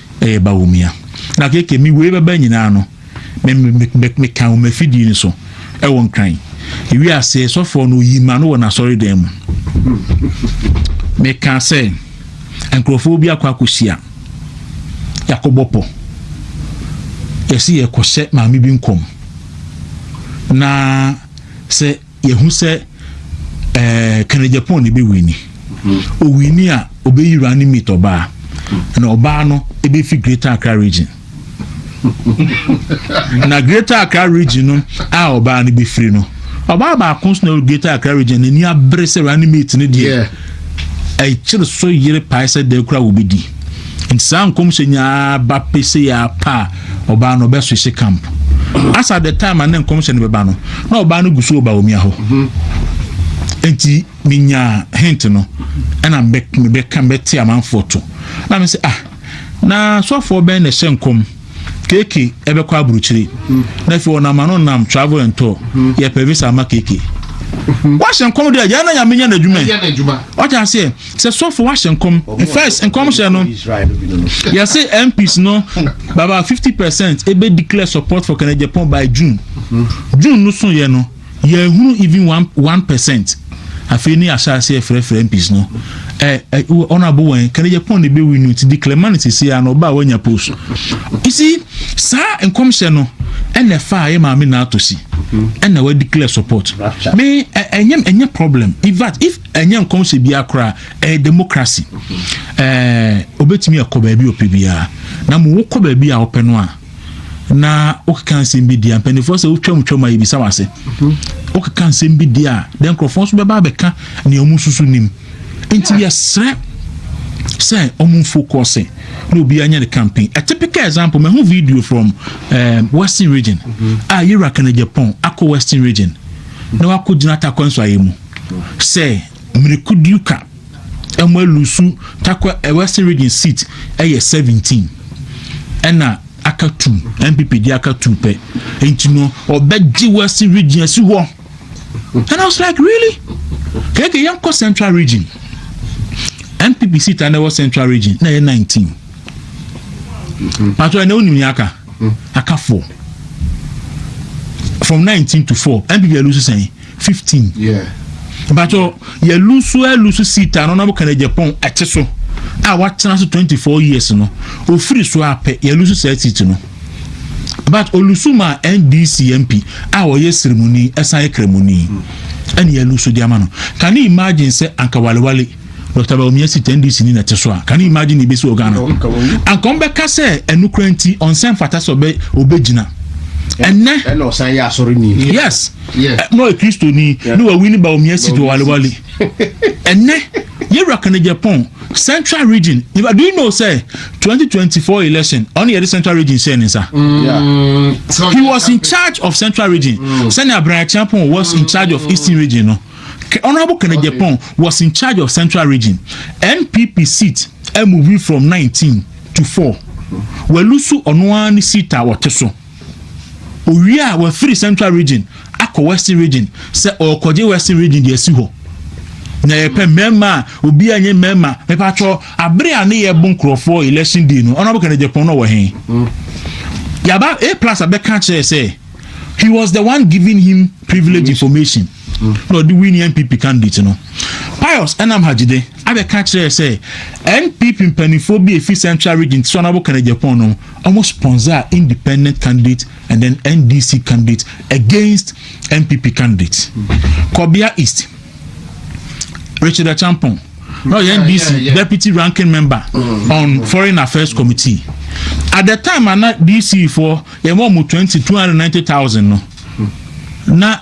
Ɛyɛ Bawumia. Na keke me wei bɛba nyinaa no, me me me me me kan wɔn afidie no so ɛwɔ nkran. Ewi ase sɔfoɔ no oyi ma no wɔ n'asɔre dan mu. Me kan sɛ nkurɔfoɔ bi akɔ akɔhyia. Yɛakɔ bɔ pɔ. Yɛsi yɛkɔ hyɛ maame bi nkɔm. Na sɛ Yɛhu sɛ ɛɛ Kanegyapong na ebewini. Owini a obeyi running mate ɔbaa, na ɔbaa no ebefi Greater Accra region. na Greater Accra region no a ɔbaa no befiri no, ɔbaa baako nso na ɛwɔ Greater Accra region n'ani abere sɛ running mate no deɛ ɛkyere so yere pae sɛ dɛn koraa wobedi. Nti saa nkɔmhyɛ nyaa ba pesee a pa a ɔbaa no ɔbɛ switch camp. As at the time a ne nkɔmhyɛ no bɛba no, na ɔbaa no gu so wɔ Bawumia hɔ. Nti menyaa hint no, ɛna mebɛka mebɛte amanfoɔ to. Na me sɛ ah, na sɔfoɔ bɛn na ɛhyɛ nkɔm? Keke ɛbɛkɔ aburukyiri na afei ɔnam ano nam travel and tour yɛ pɛ visa ama keke wahyɛ nkɔm deɛ yɛn na nyame nyɛ n'adwuma ɔte aseɛ sɛ sɔfo wahyɛ nkɔm first nkɔm hyɛ no yɛse mps no baba 50 percent ɛbɛ declare support for kɛnɛgyapɔn by june june no so yɛ no Yɛnhunu even one one percent afei ne yɛahyɛ aseɛ frɛfrɛ MPs no ɛ ɛ honourable wɛn kane Japan ne bɛwi no nti declare ma no sisi a na ɔba a wanya post you see saa nkɔmhyɛ no ɛna ɛfa a yɛ maame na ato si ɛna wa declare support me ɛnyɛ ɛnyɛ problem in fact if ɛnyɛ nkɔmhyɛ bi akora ɛyɛ democracy ɛɛ obetumi ɛkɔ baabi ɔpɛ biara na mo wokɔ baabi a ɔpɛ no a na wokeka nsɛm bi di a mpanimfoɔ sɛ wotwam twam a yɛbisa wase mhm. wokeka nsɛm bi di a dɛ nkurɔfoɔ nso bɛba abɛka nea ɔmo susu nim nti yɛsrɛ sɛ ɔmo focus na obi anya ne campaign a typical example mahu video from um, western region mhm. a yɛwura kana japan akɔ western region na wakɔ gyina atakɔ nso ayɛ mu sɛ mmirikudiuka Wɔn alusu takwa eh, western region seat eh, yɛ seventeen ɛna aka two npp di aka two pɛ nti no ɔbɛgye western region asi hɔ and i was like really kɛkɛ yɛn kɔ central region npp seat a na ɛwɔ central region na ɛyɛ nineteen pàtó ɛna onim yɛn aka aka four from nineteen to four npp alusu sɛn. fifteen. Bàtò yɛ lusu ɛ lusu seat a n'ɔnam kan Japan ɛte so a w'atena so twenty four years no ofiri so apɛ yɛ lusu saa seat no but olusu ma NDC MP a ɔyɛ sirimuni ɛsan yɛ kramuni ɛna yɛ lusu di ama no can you imagine sɛ anka walewale. Doctor Bawumia si tɛ NDC ni na ɛte so a, can you imagine nea ebesi wɔ Ghana? Anka wɔn bɛka sɛ ɛno kura nti ɔnsɛ mfata sɛ ɔbɛ ɔbɛgyina. Ɛnɛ. Ɛna ɔsan yɛ asɔre ni. Yes. Na ɔyɛ kristo ni na wawi ne Bawumia si do walewale. Ɛnɛ yɛwura Kanegyapɔn central region do you know sɛ 2024 election ɔno yɛde central region hyɛ ne nsa. Mm. He was in charge of central region mm. sɛnea Abranyakyeapɔn was in charge of eastern region no. Honourable Ken Agyapong was in charge of Central Region, NPP seat a moving from nineteen to four. Walusu ɔno ara ne seat a ɔte so. Owie a wafiri Central Region akɔ Western Region sɛ ɔrekɔgye Western Region de asi hɔ. Na yɛpɛ mmarima a obi anyɛ mmarima mepatwɔ abere a ne yɛbo nkurɔfoɔ election day no Honourable Ken Agyapong na ɔwɔ he? Yaba A plus abɛka kyerɛ sɛ he was the one giving him privilege information na ɔde win npp candidate no pius ɛnam hajide abɛka kyerɛ sɛ npp mpanimfoɔ bi efi central region ti so anabo kɛnɛ japan no wɔn sponsor independent candidate and then ndc candidate against npp candidate kɔbea east richard achampong na ɔyɛ ndc deputy ranking member mm. on foreign affairs committee at the time ana dc foɔ Yɛma ɔmo twenty, two hundred and ninety thousand no na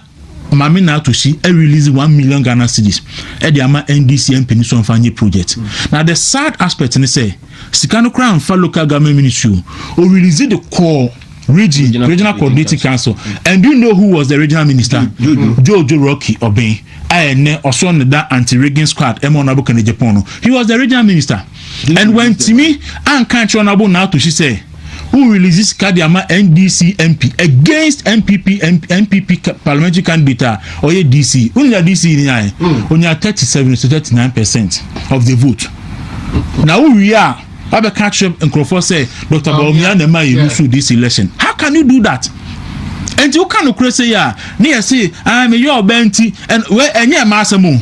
Maame Naatosi a release one million Ghana cedis ɛde ama NDC MP no so ɔmfa nye project. Na the sad aspect ne sɛ sika no koraa mfa local government ministry o, o release de kɔɔ region, regional coordinating council and do you know who was the regional minister? Jojo Rocky Obeng a ɛnɛ ɔsɔ ne da anti-rigging squad ɛma Honourable Kennedy Agyapong no, he was the regional minister. And wantumi anka ankyerɛ no Abonatohye sɛ wo release sika de ama NDC MP against NPP NPP parliamentary candidate a ɔyɛ DC. Wo nira DC ni ayɛ. Onya 37 to 39 percent of the vote. Na wo wie a wabɛka akyerɛ nkurɔfoɔ sɛ Dr. Bawumia na ɛma yɛ lusu DC election. How can you do that? Nti woka nokorɛ sɛ yi a ne yɛse ah meyɛ ɔbaa nti ɛnyɛ ɛma asɛm o.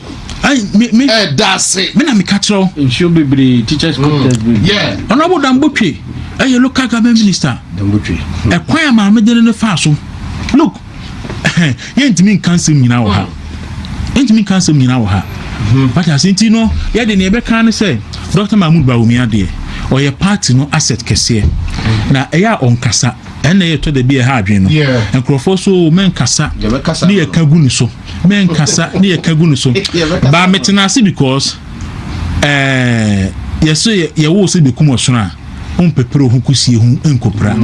Hey, me, me. Eh, that's it. Me na me catch you. In show bebre, teachers mm. contest bebre. Yeah. Honorable Dambutwe, eh, your local government minister. Dambutwe. Eh, kwan ya maame dene ne fa so. Look, eh, yɛntumi nka nsɛm nyinaa wɔ ha. Mm. Yɛntumi nka nsɛm nyinaa wɔ ha. Mm-hmm. But ase nti no, yɛde nea ɛbɛka ne sɛ Dr. Mahmoud Bawumia deɛ, ɔyɛ party no asset kɛseɛ. Mm. Na ɛyɛ a ɔnkasa. Ɛnna ɛyɛ tɔ da bi a ɛha adwene no. Nkurɔfoɔ so o, mɛnkasa ne yɛka gu ne so. Mɛnkasa ne yɛka gu ne so. Baa metena ase because ɛɛ yɛso yɛwoo sɛ bɛkum ɔsono a ɔmpɛpere ɔho kusie ho nkɔpira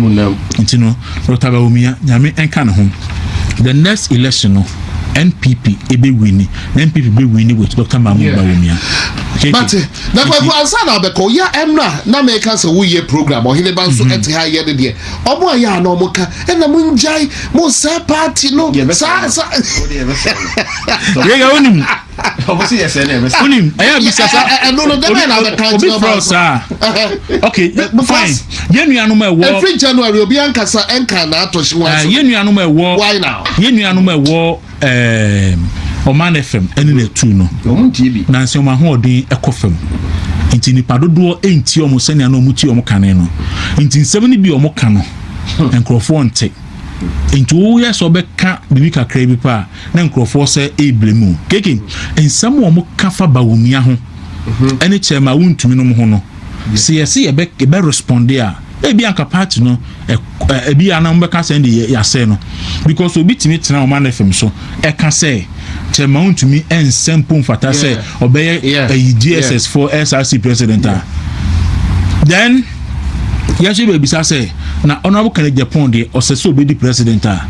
nti no Dr. Bawumia nyame nka ne ho. The next election no NPP ɛbɛwini na NPP bɛwini with Dr. Mahmoud Bawumia. But Na kwaku ansa na abɛkɔ ya ɛmra na meka sɛ woyɛ program ɔhene ba nso ɛte ha yɛ ne deɛ ɔmo a yɛ a na ɔmo ka ɛna mo ngyae mo saa party no saa saa yɛyɛ wonim wonim ɛyɛ abisa sa ɛno no dɛbɛ na abɛka obi kyerɛ frɛ ɔmo saa ok eh, because- fine yɛn nuanom a ɛwɔ ɛfiri january obi ankasa ɛnka na atɔ hye Ah, wɔn yɛn nuanom a ɛwɔ Why now? yɛn nuanom a ɛwɔ ɛɛ ɔman no fam ɛne na etu no nansi wɔn ahoɔden ɛkɔ fam nti nipa dodoɔ ɛnti wɔn sɛnea na wɔn ti wɔn kane no nti nsɛm no bi wɔn ka no nkurɔfoɔ nte nti woyɛ sɛ ɔbɛka biribi kakra bi pa a na nkurɔfoɔ sɛ ɛɛbile mu keke nsɛm wɔn ka fa ba wɔn mia ho mhm. ɛne kyɛn ma wontumi nom ho no sɛ yɛsɛ yɛbɛ yɛbɛ responde a ebi anka party no ebi a na wɔbɛka sɛ de yɛasɛe no because obi tumi tena ɔma no fam so ɛka sɛ kyɛ ma wontumi ɛnsɛ mpo mfata sɛ ɔbɛyɛ ayi dss for src president a then yɛhyɛ bɛbisa sɛ na honorable kennedy japan deɛ ɔsɛ sɛ ɔbɛdi president a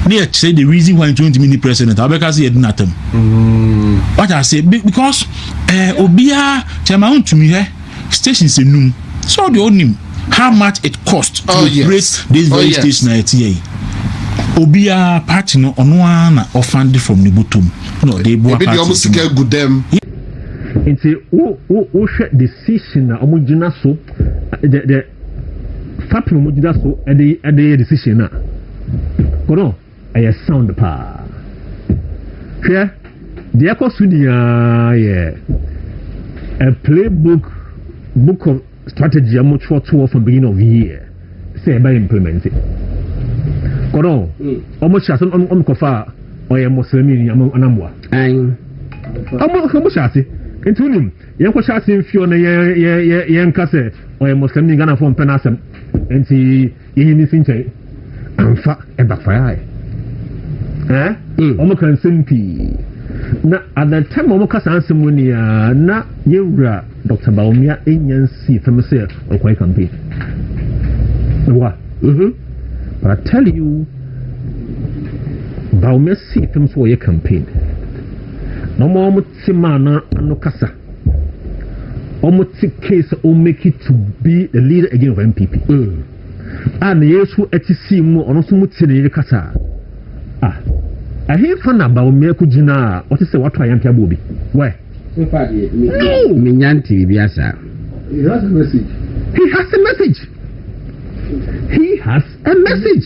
ne yɛkyerɛ the reason why nti wontumi ni president a wobɛka sɛ yɛdi no atam mm. wata ase because eh, obiaa kyɛ ma wontumi hɛ stations enum sɛ ɔde ɔnim how much it cost to oh, yes. operate this oh, very oh, yes. station a ɛteɛ yi obiara party no ɔno ara na ɔfande from ne bɔtɔ mu na ɔde boa party no ebi deɛ ɔmo sika gu dɛm. nti wo wo wohwɛ decision na ɔmo gyina so the the fapem ɔmo gyina so ɛde ɛde yɛ decision na kɔnɔ. Ɛyɛ sound paa. Hwɛ, deɛ ɛkɔ so nyinaa yɛ a playbook book of strategy a wɔtwerɛtoɔ from beginning of year sɛ ɛbɛ implement it. Kɔnɔ, wɔn hyɛ ase wɔn kɔfa ɔyɛ mɔsɛlɛmi ni anamboa. Wɔn hyɛ ase nti wonim yɛn kɔ hyɛ ase nfio na yɛn yɛn yɛn yɛn nka sɛ ɔyɛ mɔsɛlɛmi Ghana fo mpɛ n'asɛm nti. Yɛnyɛ ne nsi nkyɛn amfa ɛbakfayaaɛ eh mm. Wɔn ka nsɛm pii na at the time wɔn ka saa nsɛm no ni a na yɛn wura Dr. Bawumia enya nsi fam sɛ ɔkɔyɛ campaign na wa mhm. but I tell you Bawumia si fam sɛ ɔyɛ campaign na wɔn Te maa na ano kasa. Ɔmo te kee sɛ ɔmo make it to be the leader again of NPP. Mm. A ah, na yɛ so ɛte sii mu ɔno nso mo te ne yere kasa. Ah. Ɛhenfa na Bawumia ko gyina a ɔte sɛ wato ayampe aboɔ bi. Wɛ. No. Menya nte biribi asa. He has a message. He has a message. He has a message.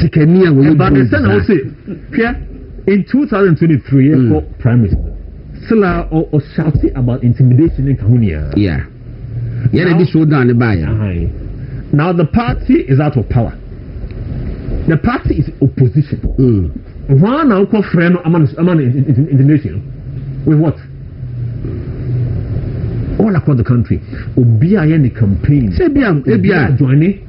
sikani a wɔyɛ ɛbaa ne sɛ na ɔse hwɛ in 2023 yɛ kɔ mm. prime minister still a ɔshoute about intimidation ne nka ho nyinaa yeah yɛ na di so down ne baayɛ uh-huh. now the party is out of power the party is opposition mm. wɔn na ɔkɔ frɛ no ama no ama no intimidation with what all across the country obi a yɛ ne campaign sɛ ebi a ebi a join ne.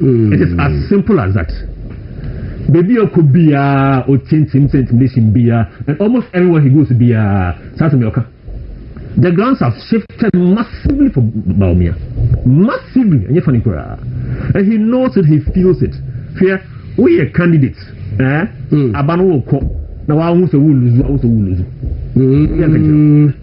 It is as simple as that. Baabi a ɔkɔ biara, ɔtie ntim sɛ intimidation biara, and almost everywhere he goes biara, saa asɛm yɛ ɔka. The grounds have shifted massively for Bawumia. Massively, ɛnyɛ funny koraa. And he knows it, he feels it. Hwɛ, woyɛ candidate, eh? Mm. Aba no wokɔ, na wahu sɛ wuluzu, wahu sɛ wuluzu. Mm. Yeah,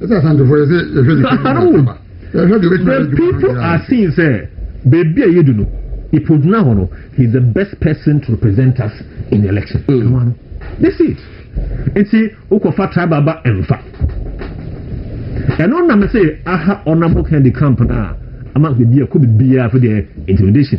So ahanom wom? The people are seeing sɛ baabi a yɛdu no, Ipoh gyina hɔ no, he is the best person to represent us in the election. Ɛno mm. ano. They see it. Nti wokɔfa tribal ba ɛmfa. Ɛno na mese aha honorable Kennedy camp no a ama biribi ɛkɔ biribiara afei deɛ intimidation.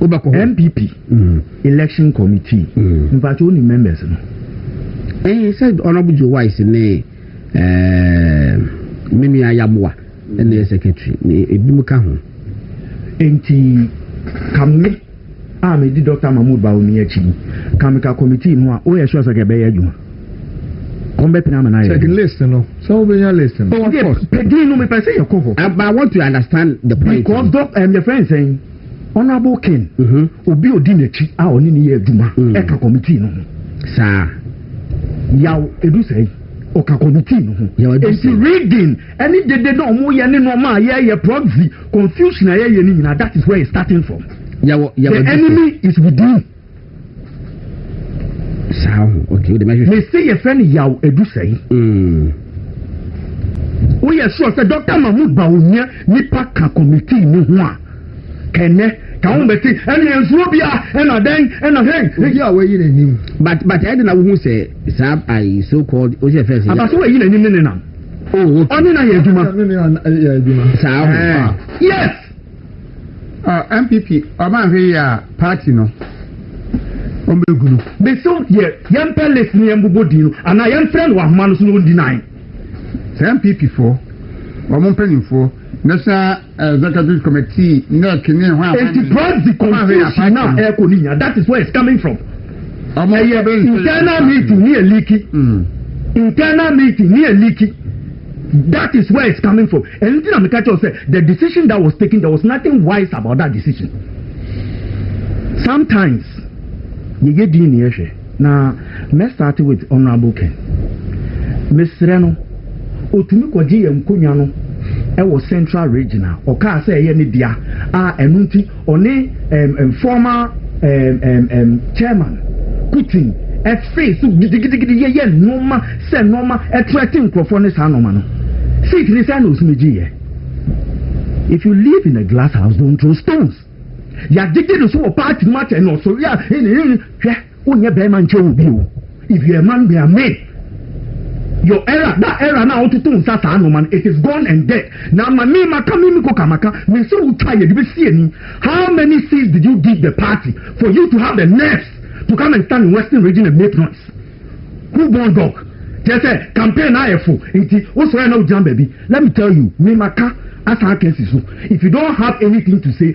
wobɛkɔ hɔ. NPP election committee mpatsɔ wo nim members no. Ɛɛ sɛ Honourable Joe Wise ne ɛɛ me nua Yamoa ɛna yɛ secretary na ebinom ka ho. Nti ka me a medi Dɔkta Mahmood Bawumia akyi no ka me ka committee no ho a woyɛ sure sɛ ka ɛbɛyɛ adwuma? Wɔn bɛ pina ama na ayɛ. Check list no sɛ wo bɛ nya list no. Oh of course. Pɛdin no mi pɛ sɛ yɛ kɔ hɔ. I want to understand the point. Because dɔ ɛm yɛ fɛn sɛn honourable king mhm. obi odi n'akyi a ɔne ne yɛ adwuma mm. ɛka committee no ho. Saa. Yaw edu sɛn ɔka committee no ho. Yaw edu sɛn. Nti reading ɛne dede na ɔmo yɛ ne nneɛma a yɛyɛ proxy confusion a yɛyɛ ne nyinaa that is where it's starting from. Yaw yaw edu sɛn. The enemy is within. saa ho okay o de mɛhwehwɛ. me se yɛfrɛ no yaw edu sɛe. Mm. woyɛ sure sɛ dr mahmood ba onya nipa ka committee ne ho a kɛnɛ ka ho bɛte ɛne yɛn nsuo bia ɛna dɛn ɛna hei obi a wayi n'anim but but ɛde na wohu sɛ saa ayi so called o sɛ fɛn sɛ abaso wayi n'anim ne nenam ɔne na yɛ adwuma saa ho yes Ɔ NPP ɔma nhwɛ yie a party no wɔn bɛ gu no. Mesew deɛ yɛmpɛ list no yɛmbobɔ din no anaa yɛmfrɛ no wɔ ahoma no so na ɔndi nan. Sɛ NPP foɔ wɔn mpanimfoɔ National Executive Committee, NEC ne hwan hwan. Enti press di confusion na ɛkɔ ne nyinaa that is where it's coming from. Ɛyɛ internal meeting ne ɛliki. Internal meeting ne ɛliki. That is where it's coming from ɛno nti na meka kyerɛ wo sɛ the decision that was taken there was nothing wise about that decision sometimes yɛyɛ din ne yɛhwɛ na mɛ start with honorable ken mesrɛ no ɔtumi kɔgye yɛ nkonnwa no ɛwɔ central region a ɔkaa sɛ ɛyɛ ne dea a ɛno nti Ɔne um former um um um chairman Putin ɛfee so gidigidigidi yɛyɛ nnoɔma sɛ nnoɔma ɛtrɛte nkurɔfoɔ ne saa nnoɔma no. Seat ne sɛ na osumi gyeeɛ. If you live in a glass house don't throw stones. Yɛagyegye no so wɔ party no mu akyɛ na ɔsɔre a hwɛ. Wonyɛ bɛrima nkyɛ wo bio if you're a man be a man your era that era na wototo nsa saa noma no it is gone and dead na ama me maka me miko ka maka me sɛ wotwa yɛ de bɛsi ani how many seas did you give the party for you to have the nerves to come and stand in western region and make noise who born dog kyerɛ sɛ campaign na ayɛ fo nti wosɔrɛ na wogyina baabi let me tell you me maka asan akɛsi so if you don't have anything to say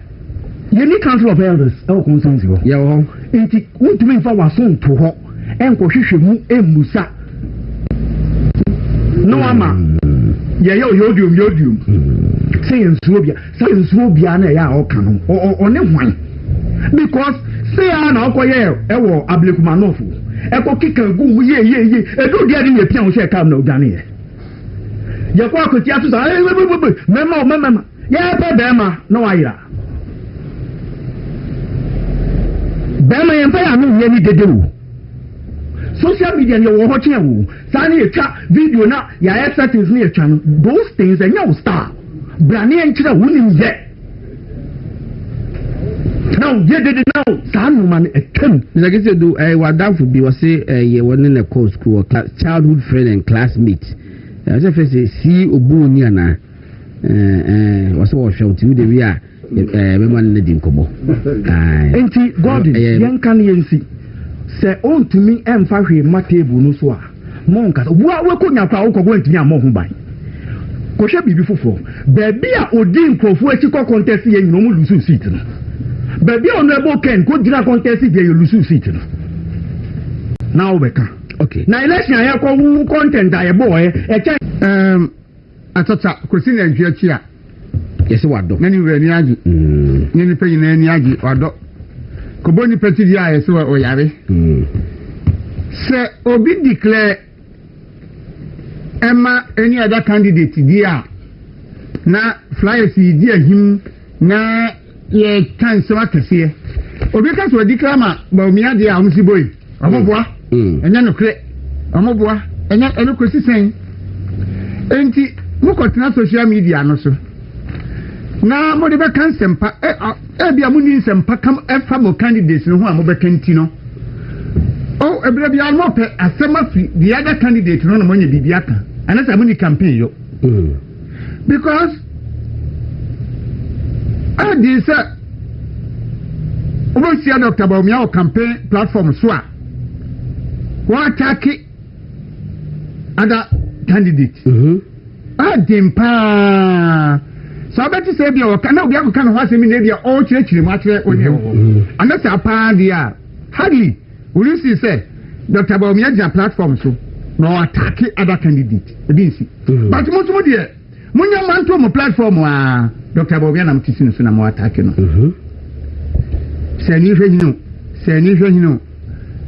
Yɛnni Council of Elders wɔ constituency hɔ. Yɛwɔ hɔ. Nti wontumi nfa w'aso nto hɔ nkɔhwehwɛ mu mmisa na wama yɛyɛ ɔyɔdiom yɔdiom sɛ yɛnsuo obia sɛ yɛnsuo obia na ɛyɛ a ɔka no ɔne hwan because sɛ a na ɔkɔ yɛ ɛwɔ abilekuma nɔfo ɛkɔ keka gu mu yie yie yie edu deɛ de yɛ pia ho hyɛ kaa mu na odwane yɛ yɛkɔ akɔtia so saa mɛma mɛma Yɛpɛ bɛɛma na wayera. Bɛɛma yɛn pɛ yɛ ano nyɛ ni dede o. Social media no yɛwɔ hɔ kyɛn o. Saa ne yɛtwa video na yɛayɛ settings ne yɛtwa no. Those things ɛnyɛ wo style. Bra ne yɛnkyerɛ wo nim yɛ. Na wo yɛ dede na wo saa nnoma no ɛtwam. Mr. Kisedu, eh, w'adamfo bi ɔse eh, yɛ wɔne na ɛkɔɔ school wɔ childhood friend and classmate. Eh, ɔsɛ fɛ sɛ si obu ni anaa? wɔsɛ wɔhwɛ wo nti wode wie a bɛma no no di nkɔmmɔ nti gordon yɛnka no yɛnsi sɛ ɔntumi mfa hwee ma table no so a monkasa woa woakɔnya kora wokɔ kɔ antumi ammɔ ho ban kɔhwɛ biribi foforɔ baabi a ɔdi nkurɔfoɔ akyi kɔ contest yɛ nyina ɔmo lusu seat no baabi a honorable ken kɔgyina contest deɛ yɛ lusu seat no na wobɛka okay. na election a yɛkɔ wo content a yɛbɔɔɛ ɛkyɛ um, Akyakya kɔsi nantwie akyi a, yɛse wadɔ. Na ne wura ani agye, ne nnipa nyinaa ani agye, wadɔ. Kɔbɔ nnipa ti deɛ a, yɛse ɔyare. Sɛ obi declare ɛma any other candidate deɛ a, na flyers yi di ahim na yɛka nsɛm akɛseɛ. Obi ka sɛ ɔdeclare ma Bawumia deɛ a, wɔn si boe. Wɔn boa, ɛnyɛ nokorɛ. Wɔn boa, ɛnyɛ ɛno kɔsi sɛn. Enti mokɔtena social media no so na mode bɛka nsɛmpa. Ebi a monni nsɛmpa kam ɛfa mo candidates no ho a mobɛka nti no. O ebire biara mopɛ asɛm afiri the other candidate no na moanya biribi aka. Anasɛ monni campaign yɔ. because ɛdi sɛ wobɛhyia dr baomia wɔ campaign platform so a wɔatake ada candidate ɛden mhm. paa sɛ wobɛte sɛ bia wɔka na obi akɔka ne ho asɛm bi na bia ɔrekyerɛkyerɛ mu akyerɛ wo ne wɔ hɔ anasɛ apaa deɛ a hardly Wuri sii sɛ Doctor Bawumia gyina platform so na ɔ attack other candidate ebi nsi mm. but mo nso mo deɛ mo nya manto mo platform a Doctor Bawumia nam ti si no so na mo attack no mm-hmm. sɛ ni hwɛ hini o sɛ ni hwɛ hini o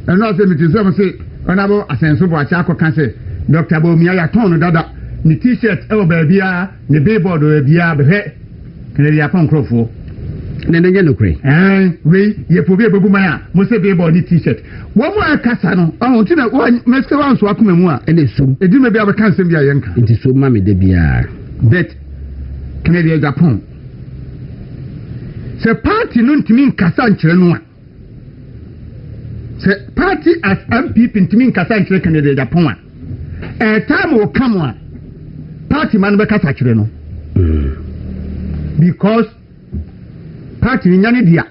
ɛnna ɔsɛ mi ti sɛ mo se ɔnabɔ asɛnso bɔ akyɛ akɔka sɛ Doctor Bawumia yɛ atɔn no dada ne t-shirt ɛwɔ baabi a. Ne billboard wɔ baabiara bɛhwɛ Kennedy Apaw nkurɔfoɔ. Na ɛno nyɛ nokorɛ? Ɛɛn, wei yɛ po bi a ɛbɛbu man a mose billboard ne T-shirt. Wɔn mu a ɛkasa no, ɔho nti na wɔn mɛsika wɔn nso akoma mu a. Ɛna sum. Ɛdi mɛ bi a wɔbɛka nsɛm bi a yɛnka. Nti sum ma me da biara. Bet, Kennedy yɛ Japan. Sɛ party no ntumi nkasa nkyerɛ no a. sɛ party as mpp ntumi nkasa nkyerɛ candidate apɔn a ɛtaa ma ɔka mo a party ma no bɛkasa kyerɛ no hmm. because party no nya ne dea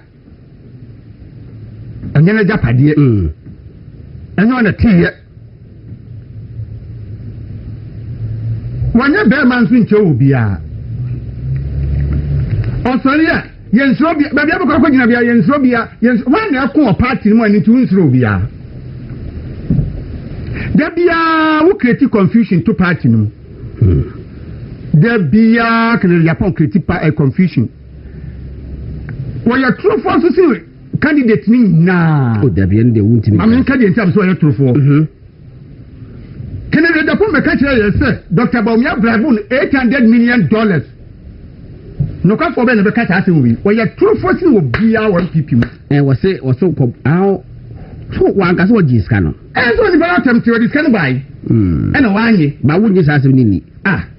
ɛnyɛ no agyapadeɛ hmm. ɛnyɛ ɔna teeɛ wɔnyɛ bɛrima nso nkyɛ wɔ biara ɔsɔre a yɛn nsoro bia baabi abɛkɔ akɔ gyina bia yɛn nsoro bia yɛn nsoro wɔn na ɛko wɔ paati no mu a ne ti wɔn nsoro biara da biara wo create confusion to paati no mu hmm. da biara kana japan create pa eh, confusion wɔyɛ torofoɔ nso si candidate ni nyinaa. o oh, dabi ɛn deɛ wuntumi. maame nka deɛ nti a bɛ sɛ ɔyɛ torofoɔ. Mhm. kennedy adapɔn bɛ ka kyerɛ yɛ sɛ dr bawumia bribe no eight hundred million dollars nokwafoɔ bɛ na bɛ ka saa asɛm wei ɔyɛ torofoɔ sini wɔ biara wɔ npp mu. ɛ wɔsi wɔsi kɔ awo so wankasa wɔ gyi sika no. ɛ sɛ onipa yɛ atɛm ti wɔ di sika no baa yi. ɛna wɔanye. ba wo nye saa asɛm ni ni. ah.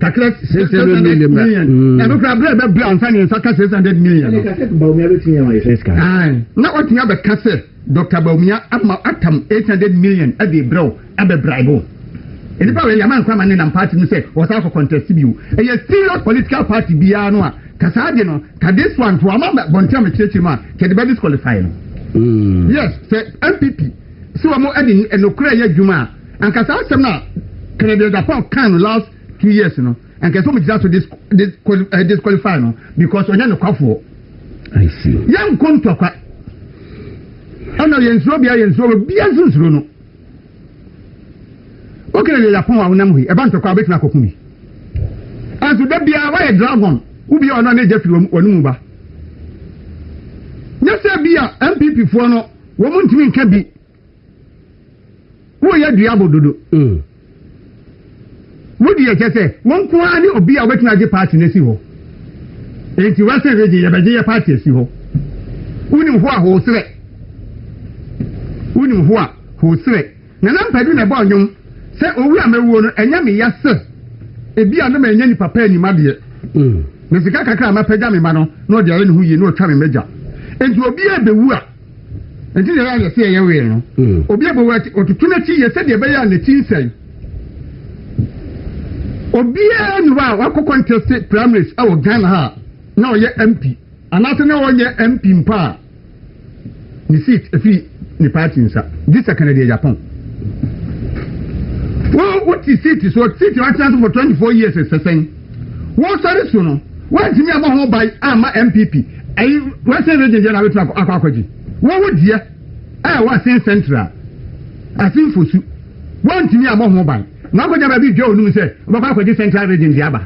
kakra six hundred million na ɛno kora berɛ ɛbɛbrɛ ansa ne nsa ka six hundred million no na ɔtumi abɛka sɛ dr baumia ama atam eight hundred million ɛde brɛw ɛbɛbrɛ bo nipa wei yɛma nkwama ne nam party no sɛ wɔsa akɔ contest bio ɛyɛ serious political party biara no a kasaa de no ka this one to ama bɔnten a mekyerɛkyerɛ mu a kyɛde bɛ disqualify no yes sɛ mpp sɛ wɔn ɛde nokorɛ yɛ adwuma a Anka saa asɛm no a Kennedy Agyapong kae no last two years no, anka ɛsɛ sɛ wɔgyina so eh, disqualify no because ɔnyɛ nokwafoɔ. Yɛnko ntɔkwa. Ɛna yɛnsuro bia yɛnsuro bia nso nsuro no. Wo Kennedy Agyapong a wonam hɔ yi, ɛba ntɔkwa a wobɛtumi akɔko bi. Ɛnso da biara woayɛ dragon, wobi a ɔno ne gya firi wɔn mu ba. Nyɛ sɛ bi a MPP foɔ no, wɔn ntumi nka bi. Woyɛ dua bododo. Wo deɛ kyɛ sɛ wo nko ara ne obi a wobɛtumi agye party no asi hɔ. Enti Western Region yɛbɛgye yɛ party asi hɔ. Wonim hoa hoo serɛ. Wonim hoa hoo serɛ. Nana Mpadu na ɛbɔɔ nnwom sɛ owu a mɛwuo no ɛnyɛ me ya sɛ ebi a na mannya nipa pa anim adeɛ. Na sika kakra a mapagya me mma no na ɔde ayɛ ne ho yie na ɔtwa me m'agya. Enti obiara bɛwu a. Enti yɛyɛ a yɛse yɛyɛ wee no, obi abɔ wo akyi, ɔtoto n'akyi yɛ sɛdeɛ ɛbɛyɛ a n'akyi nsɛe. Obiara nni hɔ a wakɔ kɔntɛste primaries wɔ Ghana ha a na ɔyɛ MP anaasɛ na ɔnyɛ MP mpo a ne seat firi ne party nsa gye sɛ Kennedy Agyapong. Wo wote seat soɔ, seat a watena so for 24 years sɛ sɛn? Wɔ sare so no, wɔantumi ammɔ ho ban amma MPP ɛyi Western Region deɛ na abɛtumi akɔ akɔ akɔgye. Wɔwɔ dua a ɛwɔ Asin Central, Asin Fosu, wɔantumi ammɔ ho ban na wɔakɔgya baabi dua onim sɛ wɔbɛkɔ akɔgye Central Region deɛ aba.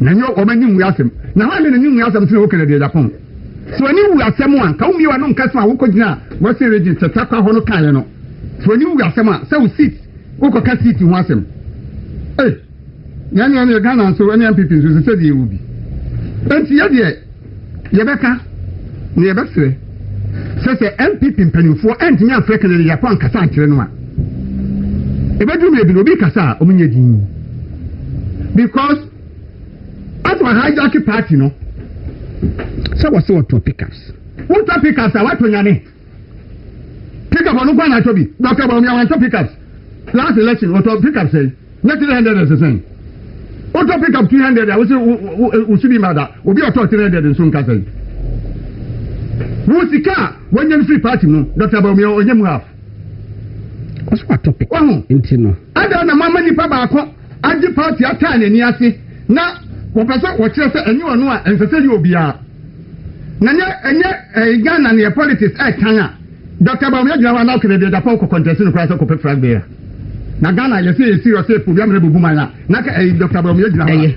Na nyɛ wɔn ani nwu asɛm. Na hwan ne n'ani nwu asɛm nti na woka no deɛ Japan. Sɛ w'ani wu asɛm a, nka wommie w'ano nka sɛ a wokɔgyinaa Western Region sɛ takwa hɔ no kaeɛ no. Sɛ w'ani wu asɛm a, sɛ wo seat, wokɔka seat ho asɛm. Ei! Na ɛno ɛne Ghana nso ɛne NPP nso sɛ sɛdeɛ ɛwɔ bi. Enti yɛ deɛ yɛbɛka na yɛbɛsrɛ sɛ sɛ NPP mpanimfoɔ ɛntumi amfrɛ Kennedy Yako ankasa ankyerɛ no a ɛbɛduru mmerɛ bi no obi kasa a wɔn nyɛ din because after wɔ hijack party no sɛ wɔsɛ wɔtɔ pickups wotɔ pickups a wɔatɔ nyane Pickup ɔno nko na atɔ bi. Doctor Bawumia wantɔ pickups last election ɔtɔ pickup sɛn na three hundred ɛsɛ sɛn wotɔ pickup two hundred a wosi wosi bi ma da obi ɔtɔ three hundred nso nka sɛn wo sika a wɔnyɛ no firi party mu Doctor Bawumia ɔnyɛ mu half ɔso atɔ pickup nti no adan na mo ama nipa baako. agye party ataa n'ani ase na wɔpɛ sɛ wɔkyerɛ sɛ ɛnyɛ ɔno a ɛnsɛ sɛ yɛ obiara na nyɛ ɛnyɛ ɛyɛ Ghana ne yɛ politics ɛɛtan a Dr. Bawumia gyina hɔ a na ɔkɛnɛ deɛ dapɔn kɔ kɔntɛsi no koraa sɛ kɔpɛ flag bearer na Ghana yɛ sɛ yɛ serious sɛ epo wiamena bubu man a na ka ɛyɛ Dr. Bawumia gyina hɔ a